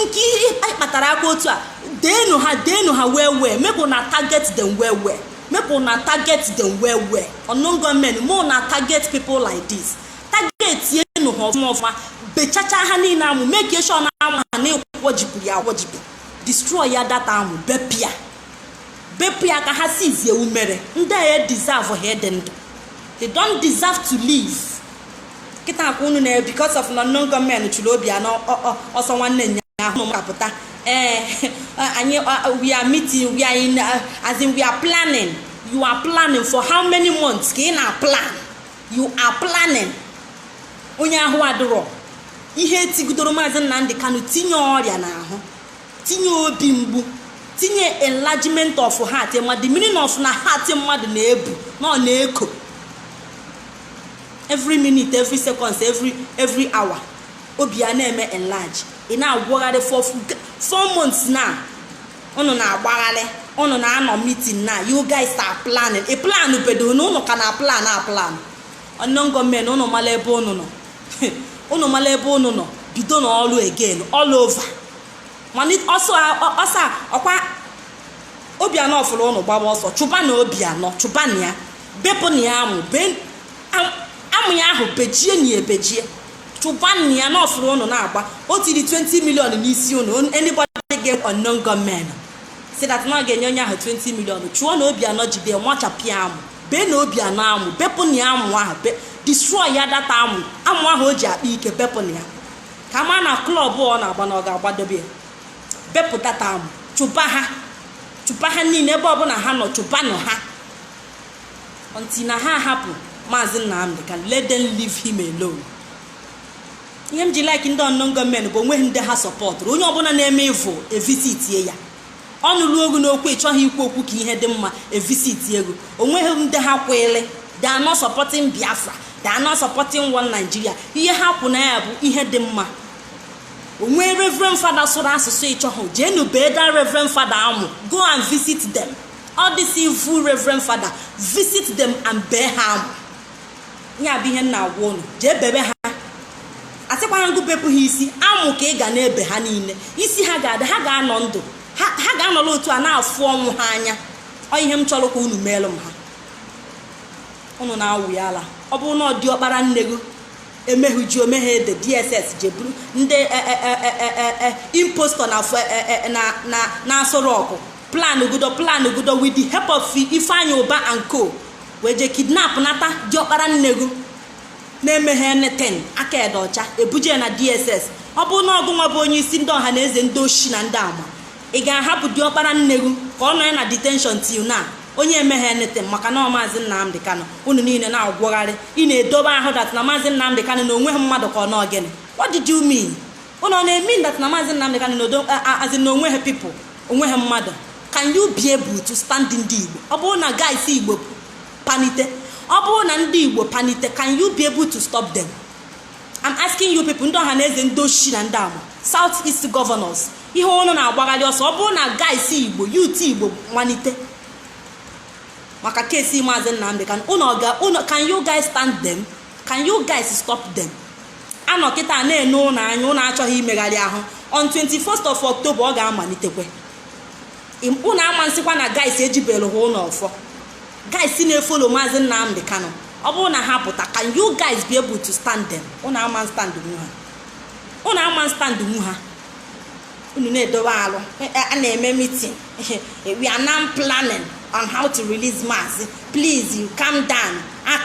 nke ihe kpatara aka otu a deenụ ha deenụ ha well well make una target them well well make una target them well well unknown gunmen make una target people like this targetienụ ha ọfụma ọfụma bechacha ha niile amụ make sure na amụ ha na-ekwojipụ ya akwojipụ destroy ya that amụ bepịa bepụ ya ka ha sizie umere ndị a deservehụ ịdị ndụ they don't deserve to live kịta ọkwa unu na because of unknown gunmen chụrụ obianọ ọsọ nwanne nya ahụ ụnụ ka pụta ee anyị we are meeting we are in as in we are planning you are planning for how many months ka ị na plan you are planning onye ahụ adịrọ ihe etigidoro maazị nnamdị kanu tinye ọrịa n'ahụ tinye obi mgbu tinye enlargement of heart ma the meaning of na heart mmadụ na-ebu na ọ na-eko every minute every seconds every every hour obi a na-eme enlarge ị na-agwagharị for four months na ụnụ na-agbagharị ụnụ na-anọ meeting na you guys are planning ị plan bedo na ụnụ ka na plan a plan unknown gunmen ụnụ mara ebe ụnụ nọ ụnụ mara ebe ụnụ nọ bidonụ ọrụ again all over mana ọsọ ọsọ ọkwa obianọ fụrụ ụnụ gbaba ọsọ chụbanụ obianọ chụbanụ ya bepụnụ ya amụ amụ ya ahụ bejienụ ya ebejie chụbanụ ya na ọ fụrụ ụnụ na-agba o tiri 20 million n'isi ụnụ anybody get unknown gunmen sị that na ọ ga-enye onye ahụ 20 million chụọnụ obianọ jide wachapụ ya amụ beenụ obianọ amụ bepụnụ ya amụ ahụ destroy ya that amụ amụ ahụ o ji akpa ike bepụnụ ya ka ma na club ọ na-agba na ọ ga-agbadobe ya bepụ that amụ chụba ha chụba ha niile ebe ọbụla ha nọ chụbanụ ha until na ha hapụ maazị nnamdị aka let them leave him alone ihe m ji like ndị unknown gunmen bụ onweghị ndị ha sọpọtụrụ onye ọbụla na-eme evil evisitie ya ọnụ luo gị n'okwu ị chọghị ikwu okwu ka ihe dị mma evisitie gị onweghị ndị ha kwele they are not supporting biafra they are not supporting one nigeria ihe ha kwụ na ya bụ ihe dị mma o nwee reverend fada sụrụ asụsụ ị chọhụ jeenu bee that reverend fada amụ go and visit them all these evil reverend fada visit them and bee ha amụ nya bụ ihe m na-agwa unu jee bebe ha asịkwarọ m gụ bepụ ha isi amụ ka ị ga na-ebe ha niile isi ha ga-adị ha ga-anọ ndụ ha ha ga-anọrọ otu a na-afụ ọnwụ ha anya ọ ihe m chọrọ ka unu meelụ m ha unu na-awụ ya ala ọ bụrụ na ọ dị ọkpara nne gị emehuji omeghe ede dss je buru ndị e, e, e, e, e, e, impostor na afọ- e, e, e, na- na- na aso rock plan ugudo plan ugudo with the help of ifeanyi ụba and co wee je kidnap nata diọkpara nne gụ na-emeghe nothing aka e dị ọcha ebuje na dss ọ bụrụ na ọ gụnwa bụ onye isi ndị ọhanaeze ndị oshi na ndị ama ị ga-ahapụ diọkpara nne gụ ka ọ nọ ya na detention till now onye emeghe nothing maka na maazị nnamdi kanu unu niile na-agwọgharị ị na-edobe ahụ that na maazị nnamdi kanu na o nweghị mmadụ ka ọ na gịnị what did you mean Unu ọ na-emean that na Maazị Nnamdi Kanu na Odo as in na o nweghị people o nweghị mmadụ can you be able to stand ndị Igbo ọ bụrụ na guys Igbo panite ọ bụrụ na ndị Igbo panite can you be able to stop them I'm asking you people ndị Ọhanaeze ndị oshi na ndị ama South East governors ihe unu na-agbagharị ọsọ ọ bụrụ na guys Igbo youth Igbo malite maka case Maazị Nnamdi Kanu unu ọ ga unu can you guys stand them can you guys stop them a nọ kịta na-ene unu anya unu achọghị imegharị ahụ on 21st of October ọ ga-amalitekwe unu ama nsịkwa na guys ejibere ha unu ọfọ guys na-efollow maazị Nnamdi Kanu ọ bụrụ na ha pụta can you guys be able to stand them unu ama stand nwu ha unu ama stand nwu ha unu na-edowe alụ a na-eme meeting we are now planning on how to release maazị please you calm down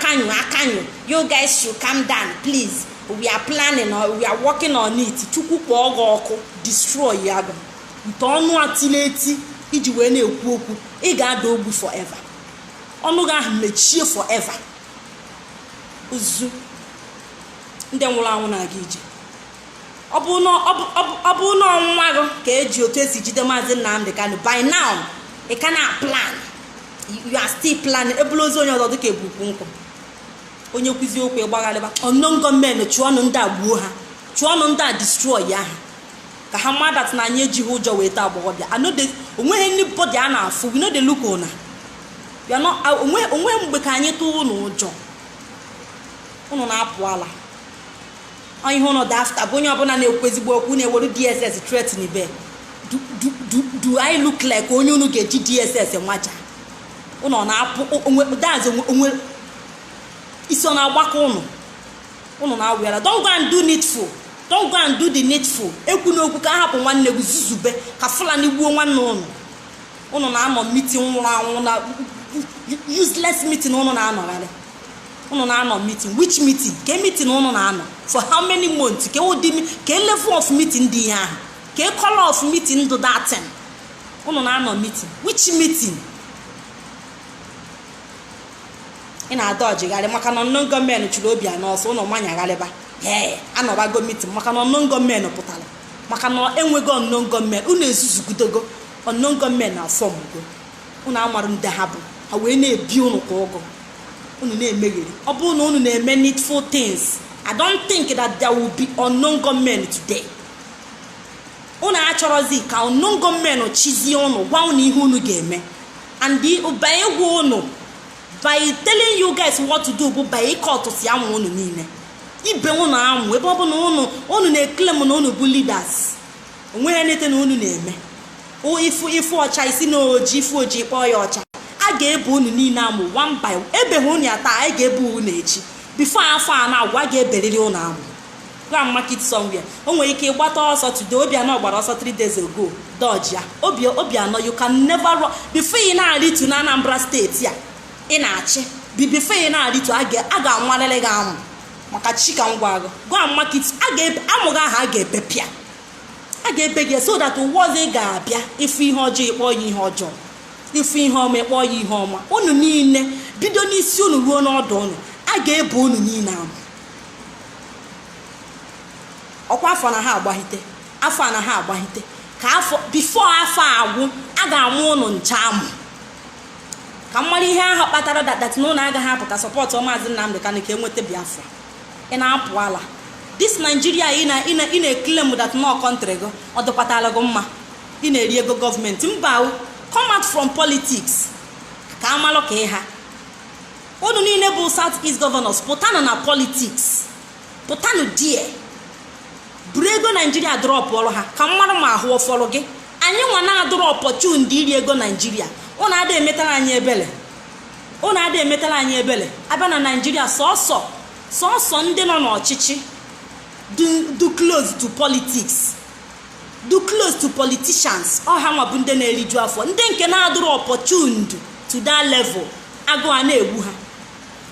can you can you you guys should calm down please we are planning or we are working on it chukwu kpọọ gị ọkụ destroya gị nte ọnụ a tile eti i ji wee na-ekwu okwu ị ga-ada ogbu forever ọnụ gị ahụ mechie forever ozu ndị nwụrụ anwụ na-aga ije ọ bụ na ọ bụ- ọ bụ- ọ bụ na ọ nwa gị ka e ji otu e si jide maazị nnamdi kanu by now ị ka na-aplan you are still planning e bulu ozu onye ọzọ dịka e bu ukwu nkụ onye kwuo eziokwu ị gbagharịba ụnụ gọọmenti chọọnụ ndị a gbuo ha chọọnụ ndị a destroya ha ka ha ma that na anyị ejighị ụjọ wee taa agbọghọbịa I no dey onweghị anybody a na-afụ we no dey look una We are not- a- onwe onweghị mgbe ka anyị tụọ ụnụ ụjọ ụnụ na-apụ ala Ọ ihe ụnụ dị after bụ onye ọbụla na-ekwu ezigbo okwu na-eweru DSS threatenibe do, do, do, do I look like onye unu ga-eji DSS maja ụnụ ọ na-apụ onwe daz onwe onwe isi ọ na-agbaka ụnụ ụnụ na-awị ara don't go and do needful don't go and do the needful ekwuna okwu ka a hapụ nwanne gị zuzube ka fulani gbuo nwanne ụnụ ụnụ na-anọ meeting nwụrụ anwụ na useless meeting ụnụ na-anọgharị unu na-anọ meeting which meeting ka meeting unu na-anọ for how many months ka ụdị ka level of meeting dị ihe ahụ ka color of meeting dụ that thing unu na-anọ meeting which meeting ị na-adọjigharị maka na unknown gunmen chụrụ obianọ ọsọ unu nwa anyagharịba ee anọbago mitin maka na unknown gunmen pụtara maka na enwego unknown gunmen unu ezuzugudogo unknown gunmen afọmgo unu amarụ ndị ha bụ ha wee na-ebi unu ka ụgụ unu na-emegheri ọ bụrụ na unu na-eme needful things i don't think that there will be unknown gunmen today unu achọrọzi ka unknown gunmen chizie unu gwa unu ihe unu ga-eme and by ịgwa unu by telling you guys what to do bụ by ịkọtụsị amụ unu niile ibe unu amụ ebe ọ bụ na unu na-eklem na unu bụ leaders onweghị anything unu na-eme ịfụ ịfụ ọcha ị sị na oji ịfụ oji kpọọ ya ọcha a ga-ebe unu niile amụ one by one ebeghị unu ya taa anyị ga-ebe unu echi bifo afọ a na-agwụ a ga-eberiri unu amụ go and mark it somewhere o nwere ike ịgbata ọsọ today obianọ gbara ọsọ 3 days ago dọji ya obi obianọ you can never run before ị na-arịtu na anambra steeti a ị na-achị bi before ị na-arịtu a ga- a ga-awarịrị gị amụ maka chi ka m gwa gị go and mark it amụ gị ahụ a ga-ebepụ ya a ga-ebe gị so that ụwa ọzọ ị ga-abịa ịfụ ihe ọjọọ ịkpọ ya ihe ọjọọ ịfụ ihe ọma ịkpọ ya ihe ọma unu niile bido n'isi unu ruo n'ọdụ unu a ga-ebe unu niile amụ ọkwa afọ na ha agbahite afọ na ha agbahite ka afọ bifo afọ agwụ a ga-amụ ụnụ ncha amụ ka m mara ihe ahụ kpatara that na unu agaghị apụta sọpọtụ maazị Nnamdị Kanụ ka enweta Biafra ị na-apụ ala this Nigeria ị na-eklem that na ọ kọntrị gị ọ dịkwatara gị mma ị na-eri ego gọọmenti mba come out from politics ka amalụ ka ị ha unu niile bụ South East governors pụtanụ na politics pụtanụ there buru ego naijiria drọpụọrọ ha ka m marụ ma ahụ ọ fọrọ gị anyị nwa na-adụrụ opportuned iri ego naijiria unu ada emetara anyị ebele unu ada emetara anyị ebele abịa na naijiria sọsọ sọsọ ndị nọ n'ọchịchị dụ close to politics dụ close to politicians ọ ha nwa bụ ndị na-eriju afọ ndị nke na-adụrụ opportuned to that level agụụ a na-egbu ha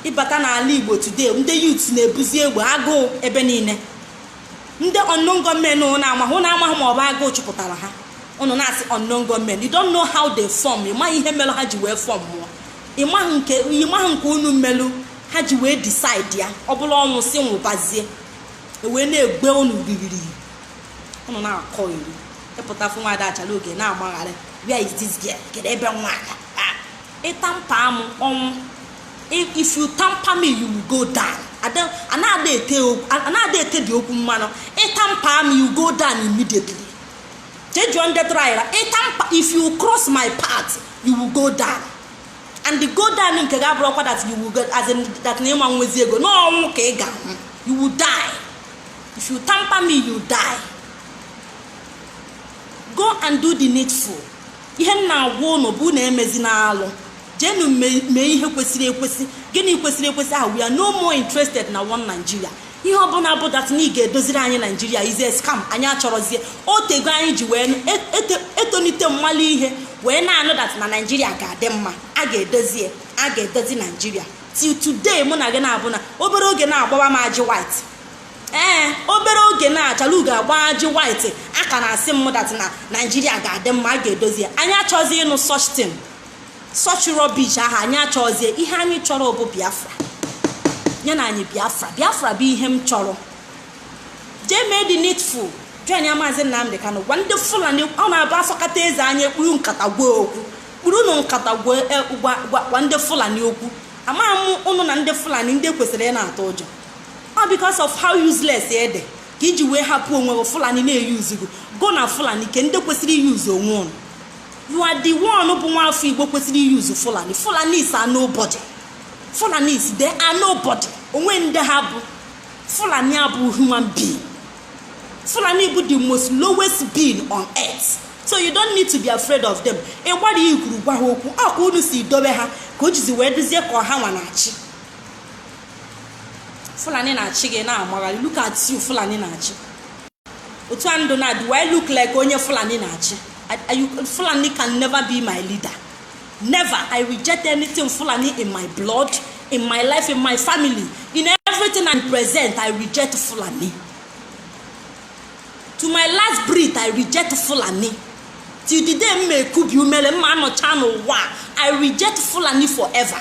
ịbata n'ala igbo today ndị yut na-ebuzi egbe agụụ ebe niile ndị unknown gunmen ụnụ na-amaghị ụnụ amaghị ma ọ bụ agụụ chụpụtara ha ụnụ na-asị unknown gunmen you don't know how they form ị maghị ihe mere ha ji wee fọmụọ ị maghị nke ị maghị nke unu melụ ha ji wee decide ya ọ bụlụ ọnwụ sị nwụbazie ewee na-egbu ụnụ ririri ụnụ na-akọyeri ịpụta fụ nwaada achalugo na-agbagharị where is this girl kedu ebe nwa ada ị tamper m ọnwụ if you tamper me you will go down anaghị etedị okwu mmanụ ị tamper m you go down immediately jee jụọ ndị tryra ịtamper if you cross my path you will go down and the go down nke gị abụrọkwa that you will go as in that na ị ma nwezi ego na ọnwụ ka ị ga you will die if you tamper me you die go and do the needful ihe m na-agwa ụnụ bụ na emezina alụ jeenụ mee ihe kwesịrị ekwesị gịnị kwesịrị ekwesị ahụ we are no more interested na one Nigeria ihe ọbụla bụ that na ị ga-edoziri anyị naijiria is a scam anyị achọrọzie o tego anyị ji wee etonite malụ ihe wee na-anụ that na naijiria ga-adị mma a ga-edozi a ga-edozi naijiria till today mụ na gị na-abụ na obere oge na-agbawa m ajị white ee obere oge na-achala ugo agba ajị white a ka na-asị m that na naijiria ga-adị mma a ga-edozi ya anyị achọzi ịnụ such thing such rubbish ahụ anyị achọzie ihe anyị chọrọ bụ biafra nyenụ anyị biafra biafra bụ ihe m chọrọ jee mee the needful join ya maazị nnamdị kanụ gwa ndị fulani ọ na-abụ a sọkata eze anya e kpuru nkata gwa okwu kpurunụ nkata gwa e, gwa- gwa- gwa ndị fulani okwu amaghị m ụnụ na ndị fulani ndị kwesịrị ị na-atụ ụjọ all because of how useless ị dị ka i ji wee hapụ onwe gị fulani na-eyuzu gị gụ na fulani kee ndị kwesịrị iyuzu onwe unu you are the one bụ nwa afọ igbo kwesịrị iyuzu fulani fulanis are nobody fulanis they are nobody o nwe ndị ha bụ fulani abụ human being fulani bụ the most lowest being on earth so you don't need to be afraid of them ị gbara ya ikwuru gwa ha okwu ọ ka unu si dobe ha ka o jizi wee dịzie ka ọ hanwa na-achị fulani na-achị gị na-amagharị look at you fulani na-achị otu a ndụ na do I look like onye fulani na-achị I- I- you- fulani can never be my leader never i reject anything fulani in my blood in my life in my family in everything i present i reject fulani to my last breath i reject fulani till the day m ma ekubi ume m ma anọcha n'ụwa a, i reject fulani forever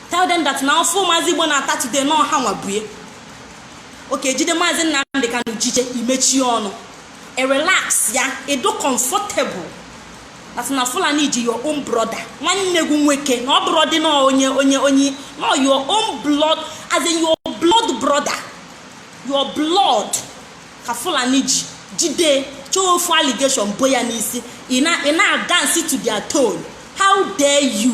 tell them that na afụfụ maazị igbo na-ata today na ọ hanwa bụ ya okay jide maazị nnamdị kanụ jije i mechie ọnụ i relax ya ị dụ comfortable that na fulani ji your own brother nwanne gị nwoke na ọ bụrọdị na onye onye onye no your own blood as in your blood brother your blood ka fulani ji jide chọọ ofu allegation bo ya n'isi ị na-adance to their tone how dare you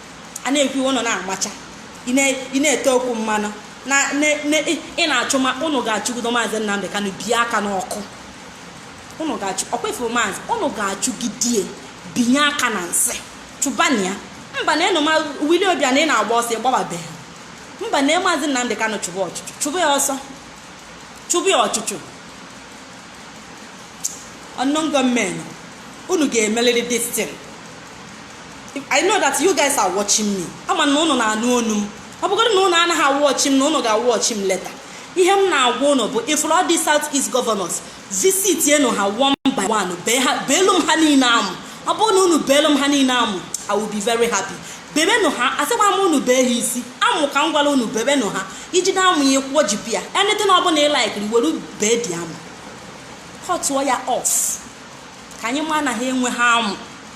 a na-ekwu iwe ụnụ na-amacha ị na- ị na-ete okwu mmanụ na na- na- ị ị na-achụ ma ụnụ ga-achụgido maazị Nnamdị Kanụ bie aka n'ọkụ ụnụ ga-achụ ọkwa ị fụrụ maazị ụnụ ga-achụgidie bie aka na nsị chụbanụ ya mba na enoma Willie Obiano ị na-agba ọsọ ị gbababeghị mba na maazị Nnamdị Kanụ chụba ọchụchụ chụba ya ọsọ chụba ya ọchụchụ unknown gunmen unu ga-emeliri this thing I know that you guys are watching me ama na ụnụ na-anụ onu m ọ bụgodị na ụnụ anaghị awatch m na ụnụ ga-awatch m later ihe m na-agwa ụnụ bụ ị fụrụ all these South East governors visitienụ ha one by one beelu m ha niile amụ ọ bụrụ na unu beelu m ha niile amụ I will be very happy bebenụ ha asịkwa m unu bee ha isi amụ ka m gwara unu bebenụ ha i jide amụ ya kwụọ jipi ya anything ọ bụla ị like were bee the amụ cutuo ya off ka anyị ma na ha enweghị amụ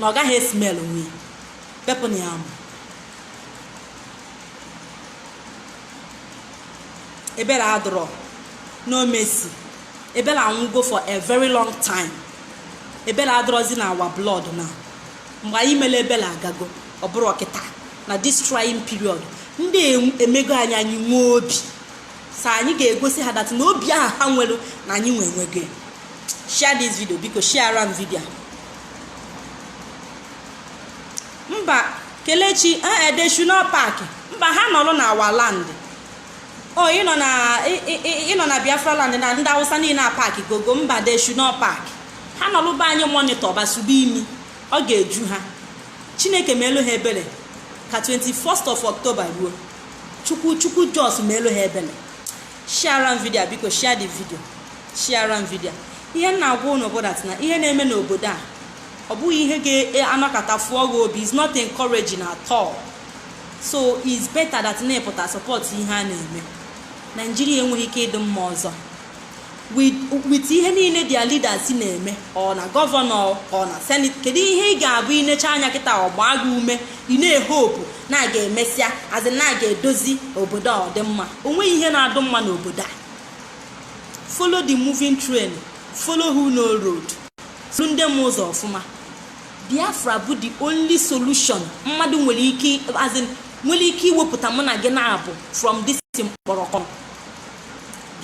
na ọ gaghị esmell onwe ya bepụnụ ya amụ ebele adọrọ no mercy ebele anwụgo for a very long time ebele adọrọzi na our blood na mgbe anyị mere ebele agago ọ bụrụ ọkịta na this trying period ndị em- emego anyị anyị nwee obi so anyị ga-egosi ha that na obi ahụ ha nwere na anyị nwe enwego ya. share this video biko sharera m video a. mba kelechi ee they should not pack mba ha nọrọ na our land o ịnọ na ị- ị- ị- ịnọ na biafra land na ndị awụsa niile apackgo go mba they should not pack ha nọrọ be anyị monitor basube imi ọ ga-eju ha chineke meelu ha ebele ka 21st of october ruo chukwu chukwu just meelu ha ebele sharera m video a biko share the video sharera m video ihe m na-agwa unu bụ that na ihe na-eme n'obodo a ọ bụghị ihe ga-anọkata fụọ gị obi it's not encouraging at all so it's better that na ị pụta support ihe a na-eme Nigeria enweghị ike ịdị mma ọzọ with ihe niile their leaders na-eme or na governor or na senate kedu ihe ị ga-abụ i necha anya kịta ọ gbaa gị ume ị na-ehope na a ga-emesịazị na a ga-edozi obodo a ọ dị mma o nweghị ihe na-adụ mma n'obodo a follow the moving train follow who know road soro ndị ma ụzọ ọfụma biafra bụ the only solution mmadụ nwere ike azị nwere ike iwepụta mụ na gị naabọ from this mkpọrọkọ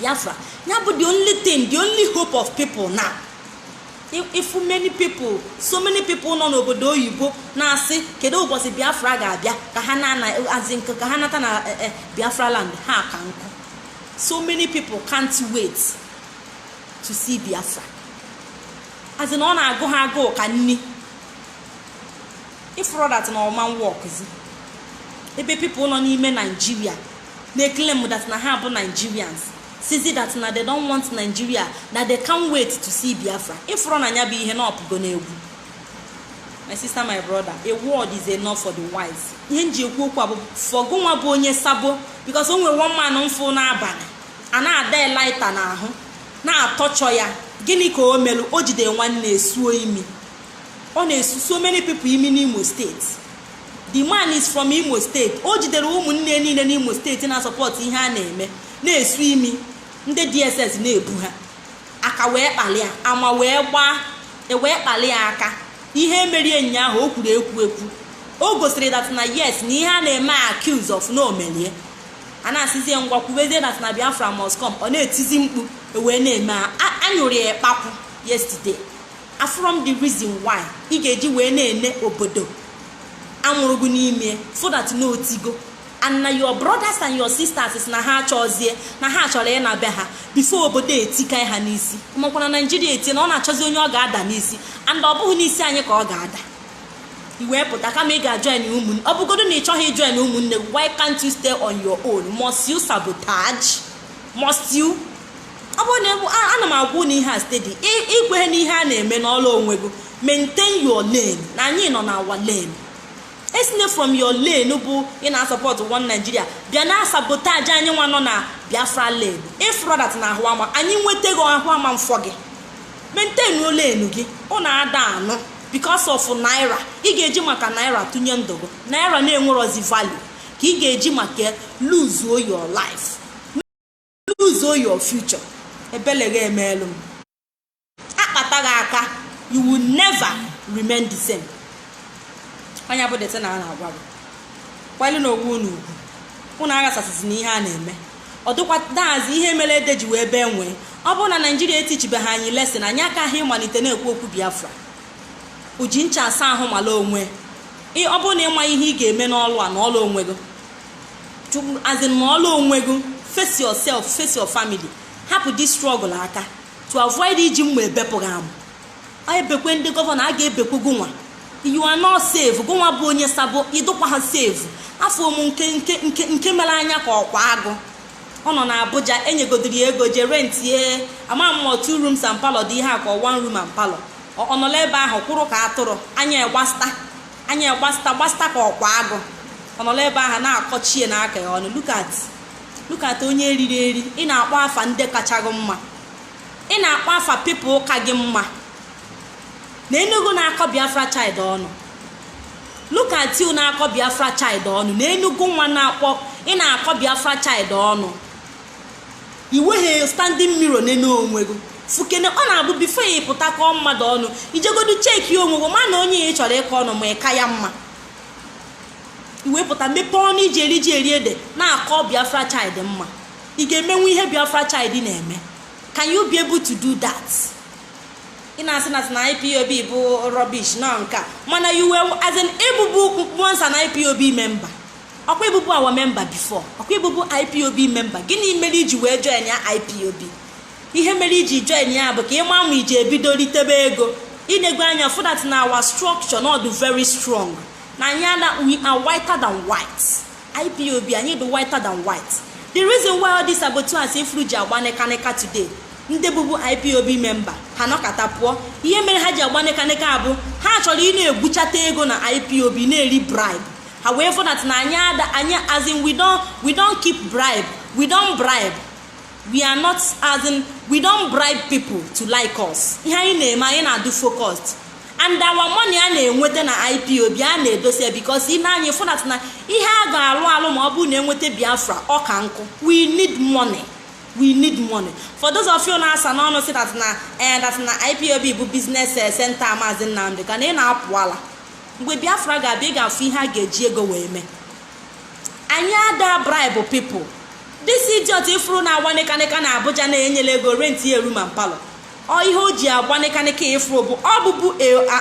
biafra ya bụ the only thing the only hope of people now ị fụ many people so many people nọ n'obodo oyibo na-asị kedu ụbọchị biafra ga-abịa ka ha nata na eh, eh, biafra land ha ka nkụ so many people can't wait to see biafra as in ọ na-agụ ha agụụ ka nni ị fụrọ that na ọ ma workzi ebe people nọ n'ime naijiria na-eclaim that na ha bụ Nigerians sịzi that na they don't want Nigeria na they can't wait to see Biafra ị fụrọ na nya bụ ihe na ọ pụgo n'egwu my sister my brother a word is enough for the wise ihe m ji ekwu okwu a bụ for gị nwa bụ onye sabo because o nwere one man m fụ n'abalị a na-ada lighter n'ahụ na-atorture ya gịnị ka o melụ o jide nwanne esuo imi ọ na-esu so many people imi n'Imo steeti the man is from imo steeti o jidere ụmụnne niile n'imo steeti na-asupport ihe a na-eme na-esu imi ndị dss na-ebu ha aka wee kpalịa ama wee gbaa e wee kpalịa aka ihe e merie ụnyaahụ o kwuru ekwu ekwu o gosiri that na yes na ihe a na-eme accuse of na o melie a na-asịzie ngwa kwubezie that na biafra must come ọ na-etizi mkpu e wee na-eme a- a- a nyụrụ ya ikpakwụ yesterday afụrọ m the reason why ị ga-eji wee na-ene obodo a mụrụ gị n'ime see that na o tigo and na your brothers and your sisters sị na ha achọzie na ha chọrọ ịna be ha before obodo etika ha n'isi makwa na naijiria etie na ọ na-achọzi onye ọ ga-ada n'isi and ọ bụghị n'isi anyị ka ọ ga-ada i wee pụta kama ị ga-ajoin ụmụnne ọ bụgodo na ị chọghị ijoin ụmụnne why can't you stay on your own must you sabotage must you ọ bụrụ na egbu- a- ana m agwa unu ihe a steady i kwehe n'ihe a na-eme nọlụ onwe gị maintain your lane na anyị nọ na our lane esine from your lane bụ ị na-asupport one Nigeria bịa na-asabotage anyị nwa nọ na Biafra lane ị fụrọ that na ahụ ama anyị nweta gị ahụ ama mfọ gị maintain your lane gị ọ na-ada anụ because of naira ị ga-eji maka naira tụnye ndụ gị naira na-enwerozi value ka ị ga-eji maka lose your life lose your future ebele gị emeelu m a kpata gị aka you will never remain the same nya bụ that na a na-agwa gị kwali na onwe unu ugwu unu aghasasịzi na ihe a na-eme ọ dịkwa that is ihe mere ede ji wee bee nwịị ọ bụrụ na naijiria eteachibeghị anyị lesson anyị akaghị ịmalite na-ekwu okwu biafra o ji ncha asa ahụ mala onwe ọ bụrụ na ị ma ihe ị ga-eme nọlụ ana nọlụ onwe gị as in nọọlụ onwe gị face yourself face your family hapụ this struggle aka to avoid iji mma ebepụ gị amụ ebekwe ndị gọvanọ a ga-ebekwe gụnwa you are not safe gụnwa bụ onye sabo ịdụkwaha safe afọ m nke nke nke nke mere anya ka ọkwa agụ ọ nọ na abuja enyegodiri ya ego jee rentie ama m ọ two rooms and parlor dị ihe a ka one room and parlor ọ nọlụ ebe ahụ kwụrụ ka atụrụ anya gbasta anya gbasta gbasta ka ọkwa agụ ọ nọrọ ebe ahụ na-akọchie na aka ya ọnụ look at look at onye eriri eri ị na-akpọ afa ndị kacha gị mma ị na-akpọ afa people ka gị mma nenụ gụ na-akọ biafra child ọnụ look at you na-akọ biafra child ọnụ nenụ gụnwa na-akpọ ị na-akọ biafra child ọnụ iweghị standing mirror nene onwe gị fụkene ọ na-abụ before ịpụta kọọ mmadụ ọnụ ijegodu checkie onwe gị ma na onye ahụ ị chọrọ ịkọ ọnụ ma ị ka ya mma iwepụta mepee ọnụ iji eri ji eri ede na-akọ biafra child mma ị ga-emenwu ihe biafra child na-eme can you be able to do that ị na-asị na sị na ipob bụ rubbish nọ nka mana you were as in ịbụbu once an ipob member ọkwa ịbụbu our member before ọkwa ịbụbu ipob member gịnị mere iji wee join ya ipob ihe mere iji join ya bụ ka ịma ma iji ebido ritebe ego inego anya fụ that na our structure na ọdụ very strong na anyị ana we are whiter than white ipob anyị dị whiter than white the reason why all this saboteurs ịfụrụ ji agba nịkanịka today ndị bụbu ipob member ha nọkata pụọ ihe mere ha ji agba nịkanịka bụ ha chọrọ ị na-egbuchata ego na ipob na-eri bribe ha wee fụ that na anyị ada anyị as in we don't we don't keep bribe we don't bribe we are not as in we don't bribe people to like us ihe anyị na-eme anyị na-adụ focused and our money a na-enweta na ipob a na-edosa because na anyị fụ that na ihe a ga-alụ alụ ma ọ bụrụ na enweta biafra ọ ka nkụ we need money we need money for those of you na-asa n'ọnụ sị that na eh, that na ipob bụ business eh, center maazị nnamdị kanu ị na-apụ ala mgbe biafra ga-abịa ị ga-afụ ihe a ga-eji ego wee mee anyị ada bribe people this idiot ịfụrụ na-agba nịkanịka na abuja na-enyela ego rent ya a room and parlor ọ ihe o ji agba nịkanịka ịfụrụ bụ ọ bụbu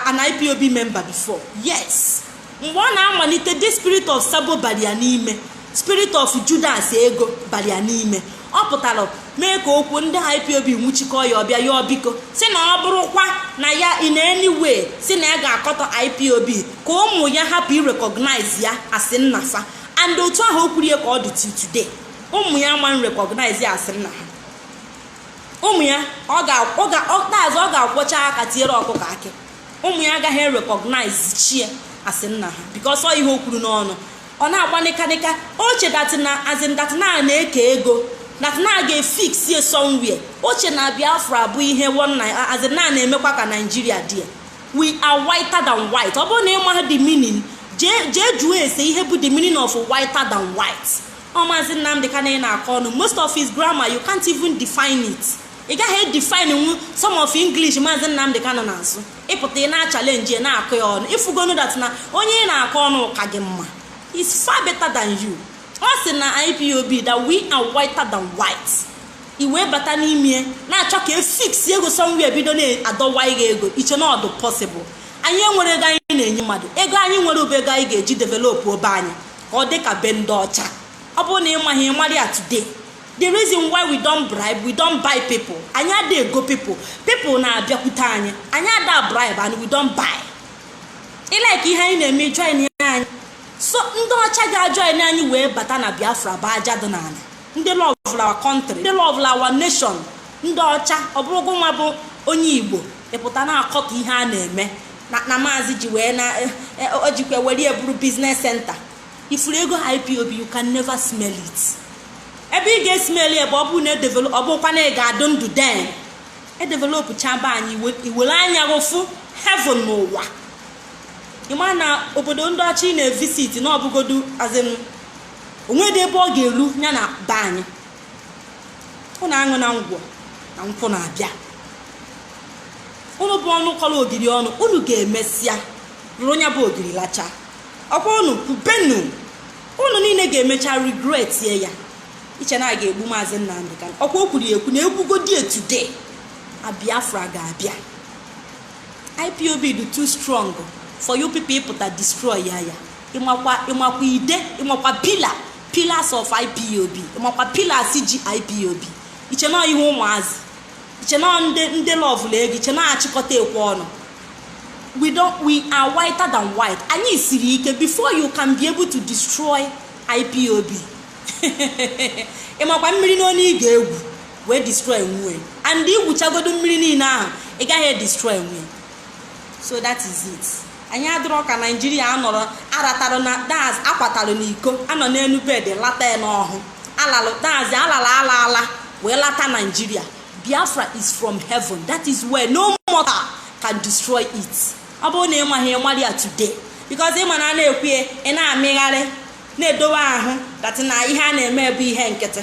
an ipob member before yes mgbe ọ na-amalite the spirit of sabo bara ya n'ime spirit of judas ego bara ya n'ime ọ pụtara mee ka okwu ndị ipob nwụchikọ ya ọ bịa yọọ biko sị na ọ bụrụkwa na ya in any way sị na ya ga-akọtọ ipob ka ụmụ ya hapụ irecognize ya as nna fa and otu ahụ o kwuru ya ka ọ dị till today ụmụ ya ama recognize ya as nna ha ụmụ ya ọ ga-azụ ọ ga-akwọcha aka tiere ọkụkọ akị ụmụ ya agaghị erecognize chie as nna ha because ọ ihe o kwuru n'ọnụ ọ na-agba nịkanịka o che dat na azin dat na na-eke ego dat na ga-efix ye somewhere o che na biafra bụ ihe azin na na-emekwa ka naijiria dị ya we are whiter than white ọ bụrụ na ịma the meaning jee jụọ ese ihe bụ the meaning of whiter than white ọ maazị nnamdi kanu ị na-akọ ọnụ most of his grammar you can't even define it ị gaghị edefinenwu some of english maazị nnamdi kanu na-asụ ị pụta ị na-achalenji na-akọ ya ọnụ i fugonu dat na onye ị na-akọ ọnụ ka gị mma is far better than you ọ sị na ipob that we are whiter than white i wee bata n'ime na-achọ ka e fix ego somewhere bido na-adọwa gị ego i che na ọ dụ possible anyị enwerọ ego anyị na-enye mmadụ ego anyị nwere ọ bụ ego anyị ga-eji developụọ be anyị ka ọ dị ka be ndị ọcha ọ bụrụ na ị maghị ị marị ya today the reason why we don't bribe we don't buy people anyị ada ego people people na-abịakwute anyị anyị ada bribe and we don't buy ị like ihe anyị na-eme joinia anyị so ndị ọcha ga-ajoin anyị wee bata na biafra bụ aja dị n'ala ndị love our country ndị love our nation ndị ọcha ọ bụrụ gị nwa bụ onye igbo ị pụta na-akọta ihe a na-eme na maazị ji wee na eh, eh, o jikwa were eburu biznes senta ifuru ego ipob you can never smell it ebe ị ga-esmeli ebe ọ bụrụ na edevelop ọ bụkwa na ị ga-adụ ndụ den e developụchaa be anyị iwe- i were anya gị fụ heaven n'ụwa ị ma na obodo ndị ọcha ị na-evisit na ọbụgodu azin o nwedị ebe ọ ga-eru ya na be anyị ụnụ aṅụna ngwọ na nkwụ na-abịa ụnụ bụ ọnụ kọrọ ogiri ọnụ ụnụ ga-emesịa rụrụ ya bụ ogiri lacha ọkwa unu kwubenu unu niile ga-emecha regret ye ya i che na a ga-egbu maazị Nnamdi Kanu ọkwa o kwuru ya ekwu na e gbugodi ya today a Biafra ga-abịa IPOB dị too strong for you people ịpụta destroy ya ya ịmakwa ịmakwa ide ịmakwa pila pillars of IPOB ịmakwa pillars ji IPOB i che na ọ ihe ụmụazị che na ndị ndị lọvụlụ ego i che na ọ achịkọta ekwe ọnụ we don't we are whiter than white anyị siri ike before you can be able to destroy ipob ịmakwa mmiri one ị ga-egwu wee destroynwu ye and i gwuchagodo mmiri niile ahụ ị gaghị edestroynwu ye so that is it anyị adịrọ ka naijiria anọrọ aratara na daz akwatara n'iko anọ n'elu bed lata ya n'ọhụ alalụ daz alala ala ala wee lata naijiria biafra is from heaven that is why no mortal can destroy it ọ bụrụ na ị maghị ị mara ya today because ị ma na a na-ekwu ya ị na-amịgharị na-edowe ahụ datị na ihe a na-eme bụ ihe nkịtị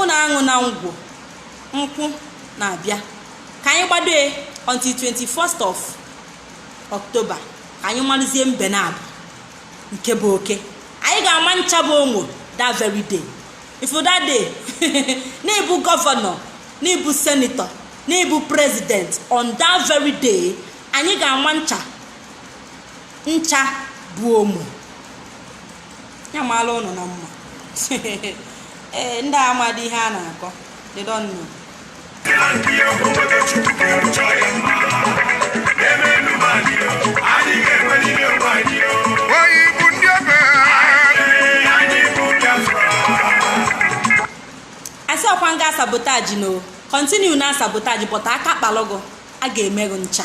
ụnụ aṅụna ngwọ nkwụ na-abịa ka anyị gbado ya until 21st of October ka anyị malụzie mbe naabọ nke bụ oke anyị ga-ama ncha bụ omo that very day if that day na ị bụ gọvanọ na ị bụ senetọ na ị bụ president on that very day anyị ga-ama ncha ncha bụ omo ya maalụ ụnụ na mma ee ndị amadị ihe a na-akọ they don't know oyi bụ ndị ebe a sị ọkwa na ị ga-asabotaji no continue na-asabotaji but aka kpalụgụ a ga-eme gị ncha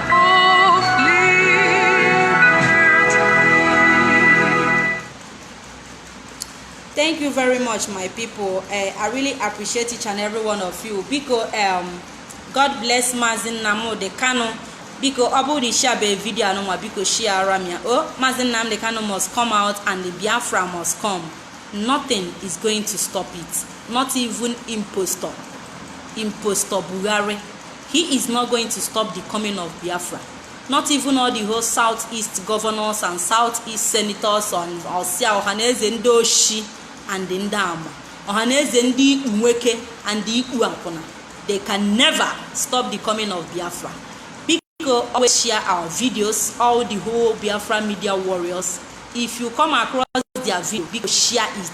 thank you very much my people uh, i really appreciate each and every one of you biko um, god bless mazi nnamdi kanu biko ọ bụrụ na ishiabe vidio anụnwa biko shiara m ya o oh, mazi nnamdi kanu must come out and the biafra must come nothing is going to stop it not even impostor impostor buhari He is not going to stop the coming of Biafra. Not even all the whole southeast governors and southeast senators on Osia Ohaneze ndị oshi and ndị ama. Ohaneze ndị ikpu nweke and ikpu akwụna. They can never stop the coming of Biafra. Biko always share our videos, all the whole Biafra media warriors. If you come across their video, biko share it.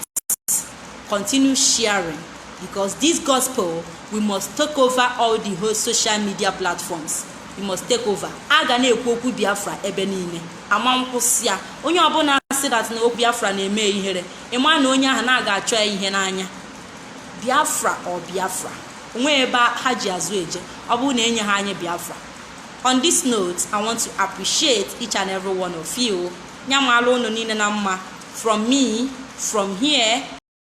Continue sharing. Because this gospel, we must take over all the whole social media platforms. We must take over. A ga na-ekwu okwu Biafra ebe niile. Ama nkwụsị ya. Onye ọbụla sị that na okwu Biafra na-eme ihere. Ị ma na onye ahụ na a ga-achọ ya ihe n'anya. Biafra or Biafra. O nweghị ebe ha ji azụ eje. Ọ bụrụ na enyeghị anyị Biafra. On this note, I want to appreciate each and every one of you. Nya malụ unu niile na mma. From me, from here.